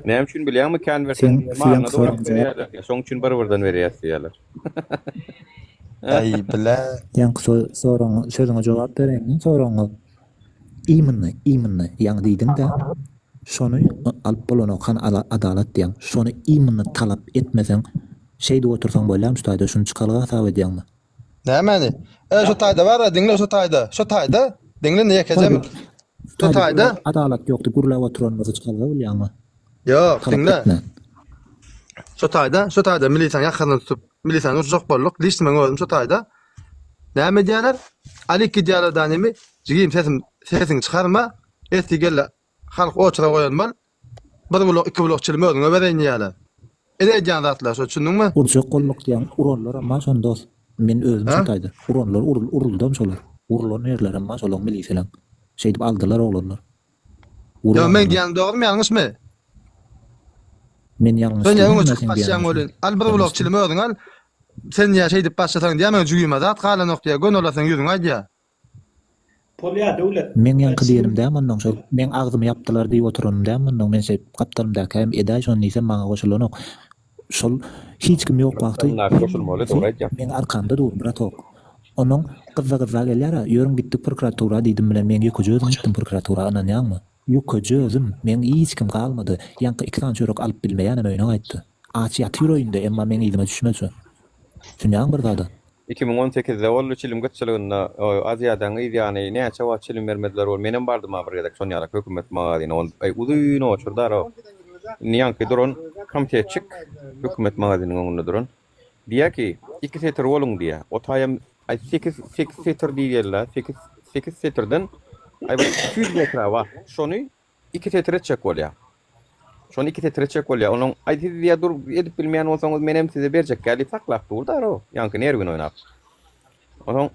Näme üçin bilýäňmi konwertiň maryna dolap berýärler. Şoň üçin bir birden berýäs diýýärler. Aý bile. Ýaňky soragyň sözüňe jogap bereýin soragyňa. Immnny immnny ýaňy diýdiňdä şony alyp bolanok hany adalat diýýän şony immnny talap etmeseň şeýdip otursaň bolýamy şu taýda şuny çykalga hasap edýäňmi. Nämäni? E, şu taýda bar-a, diňle şu taýda, şu taýda. Diňle ýekejem. Şu taýda. Adalat ýokdy, gürläp oturanymyzy çykalga bolýaňmy? Ýok, diňle. Şu taýda, şu taýda milisiýaň ýakasyny tutup, milisiýany urjak bolduk. Diýsin men özüm şu taýda. Näme diýýärler? Alik diýýärler da nemi? Jigim sesim, sesiňi çykarma. Esti gelle Halk oçura goýan mal, bir bulak, iki bulak çilim özüňe bereýin diýýäler. Ene edýän zatlar şu, çündüňmi? Urjak bolmak diýýäň, uranlaram bar şony dos. Men özüm şo taýda. Uranlar urul, uruldam şolar. Urulan ýerlerem bar şolaň miliseleň. Şeýdip aldylar oglanlar. Urip Ýa meň aldylar. diýýänim dogrymy, ýalňyşmy? Men ýalňyş Sen ýa öňe diýdim, ýa çykyp seň diýeniň gaçýaň ýalňyşmy? welin, al bir bulak çilim özüň al. Sen ýa şeýdip başlasaň diýýä meň jübime zat galanok diýýä, göni olaryň ýüzüňe aýdýa. Meň ýaňky diýenim däl mundan şol meň agzymy ýapdylar diýip oturanym däl mundan men şeýdip gapdalymdaky hem edäý şony diýsem maňa goşulanok şol hiç kim ýok wagty hemmesi meň arkamda dur bratok onuň gyzza gyzza gelýär a ýörüň gitdik prokuratura diýdim bilen men ýekeje özüm gitdim prokuratura ynanýaňmy. Ýukaja özüm, meň hiç kim galmady. Ýaňky iki sany çörek alyp bilmeýänem öýüne gaýtdy. Aç ýatyr öýünde, emma meň yzyma düşmezçe. Sünýäň bir zada. Iki müň on sekizde boldy çilim gytçylygynda Aziýadaň yz ýany näçe wagt çilim bermediler ol menem bardym-a bir gezek şon ýalak hökümet magazine ol uzyn oçurdy ara indi ýaňky duran komtetçik hökümet magaziniň öňünde duran. Diýýär ki, iki setir boluň diýýär. O taýam, aý, sekiz, sekiz setir diýýärler, sekiz, sekiz setirden, aý, bir iki ýüz metre bar. Şony iki setir etjek bolýar. Şony iki setir etjek bolýar. Onuň, aý, siz diýýär, dur, edip bilmeýän bolsaňyz, menem size berjekkä diýip saklap dur-da, o, ýaňky nerwini oýnap. Onsoň,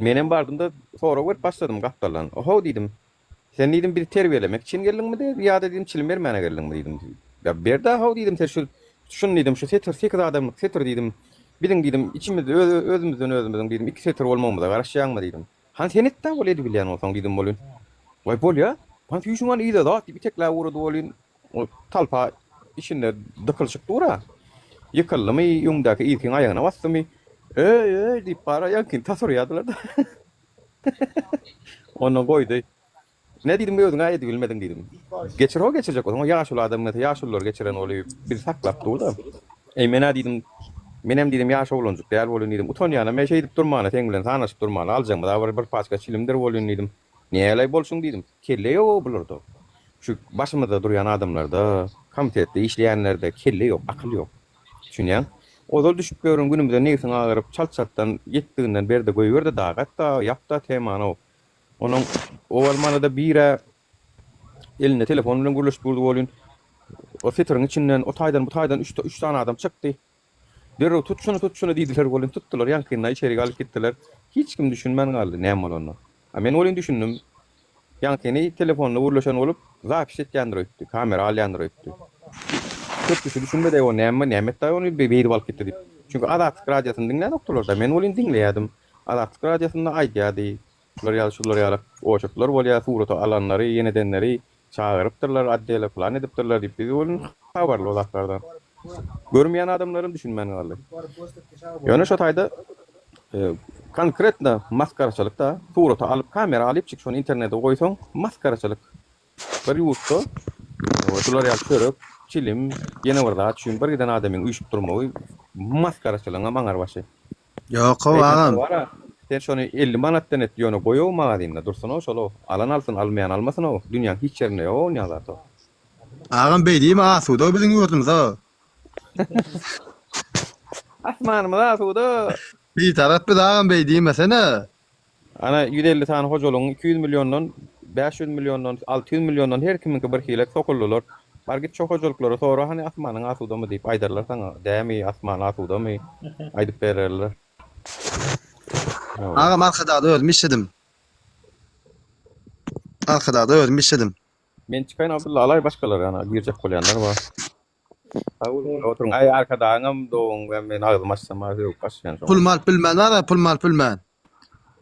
menem bardym-da, sorag berip başladym gapdaldan. Ohow diýdim, Sen diýdim bizi terbiýelemek üçin geldiňmi de ýa-da diýdim çilim bermäne geldiňmi diýdim. Ýa berda-haw diýdim sen şu şuny diýdim şu setir sekiz adamlyk setir diýdim biziň diýdim içimiz özümizden özümiziň diýdim iki setir bolmagymyza garaşýaňmy diýdim. Han sen et-dä ol edibilýän bolsaň diýdim welin. Waý bolýa han süýşüň han yza zat diýip itekläp ugrady welin ol talpa içinde dykylyşyp dur-a. Ýykyldymy öňdäki ilkiň aýagyna basdymy öý öý diýip bara ýaňkyny tas urýadylar-da. Onda goýdy. Ne diýdim, özüň-ä edibilmediň diýdim. Geçir ho, geçirjek bolsaň, o ýaşuly adam nätse, ýaşululary geçiren ol bizi saklap dur-da. Eý, men-ä diýdim, menem diýdim, ýaş oglanjyk däl bolun diýdim, utanýanam-a şeýdip durmana, seň bilen sanaşyp durmana, aljagymyz-a bir, bir paçka çilimdir bolun diýdim. Näleý bolsun diýdim, kelle ýog-ow bularda. Şu başymyzda durýan adamlarda, komitetde işleýänlerde kelle ýok, akyl ýok. Düşünýäň? Ozal düşüp ýörün günümize nebsiň agyryp çalt-çaltdan ýetdiginden berde goýberde dagy hatda ýapda temanow. Onuň owal manada birä elinde telefon bilen gürleşip durdy bolýyn. O setriň içinden o taýdan bu taýdan üç üç sany adam çykdy. Derrew tut şuny tut şuny diýdiler bolýyn tutdylar ýaňkynda içerik alyp gitdiler. Hiç kim düşünmän galdy näme bolanyna. A men welin düşündim. Ýaňy seni telefonda gürleşen bolup, zapis etýändir öýtdi, kamera alýandyr öýtdi. Köp kişi düşünmedi, eý o näme, näme etdi-aý ony beýdip alyp gitdi diýip. Çünki Azatlyk radiosyny diňlänokdylar-da, men welin diňleýärdim. Azatlyk radiosynda aýdýardy. Şular ýaly, şular ýaly ojaklar bolýar, surata alanlary, ýenedenleri çagyrypdyrlar, otdele plan edipdirler diýip, biz welin habarly o zatlardan. Görmeýän adamlarym düşünmän galdy. Ýöne şo taýda. Konkretno masgaraçylyk da, surata alyp kamera alyp çyk şony internete goýsaň masgaraçylyk. Bir ýurtda şular ýaly çörek, çilim, ýene bir zat üçin bir giden adamyň üýşüp durmagy masgaraçylygyňam aňar başy. Ýokow agam. Sen şony elli manatdan et ýöne goýow magazynda dursunow şolow alan alsyn almaýan almasynow dünýäň hiç ýerinde ýokow onýa zatow. Agam beýdimi asuda biziň ýurdumyzow. Asmanymyz asuda. Bitarap biz agam beý diýmesene. Ana ýüz elli sany hojalygyň iki ýüz milliondan, bäş ýüz milliondan, alty ýüz milliondan her kimiňki bir hile sokuldylar. Bar git şo hojalyklara sora hany asmanyň asudamy diýip aýdarlar saňa dämi asman asudamy aýdyp bererler. Agam arkadagda özüm işledim. Arkadagda özüm işledim. Men çykaýyn Abdylla alaý başgalar ýana girjek bolýanlar bar. Sag boluň we oturyň aý arkadagyňam doň we men agzymy açsam bar sögüp başlaýan şoňa. Pulumy alyp bilmän bara pulumy bilmän.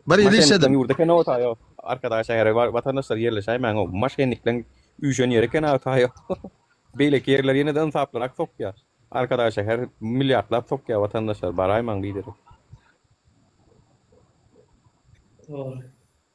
Bir ýyl işledim. Maşennikleň ýurdy eken o taýo arkadag şähere bar watandaşlar ýerleşäýmäň o maşennikleň üýşen ýeri eken a taýo beýleki ýerler ýene-de ynsaplyrak sokýa arkadag şäher milliardlap sokýa watandaşlar baraýmaň biderek. Dogry.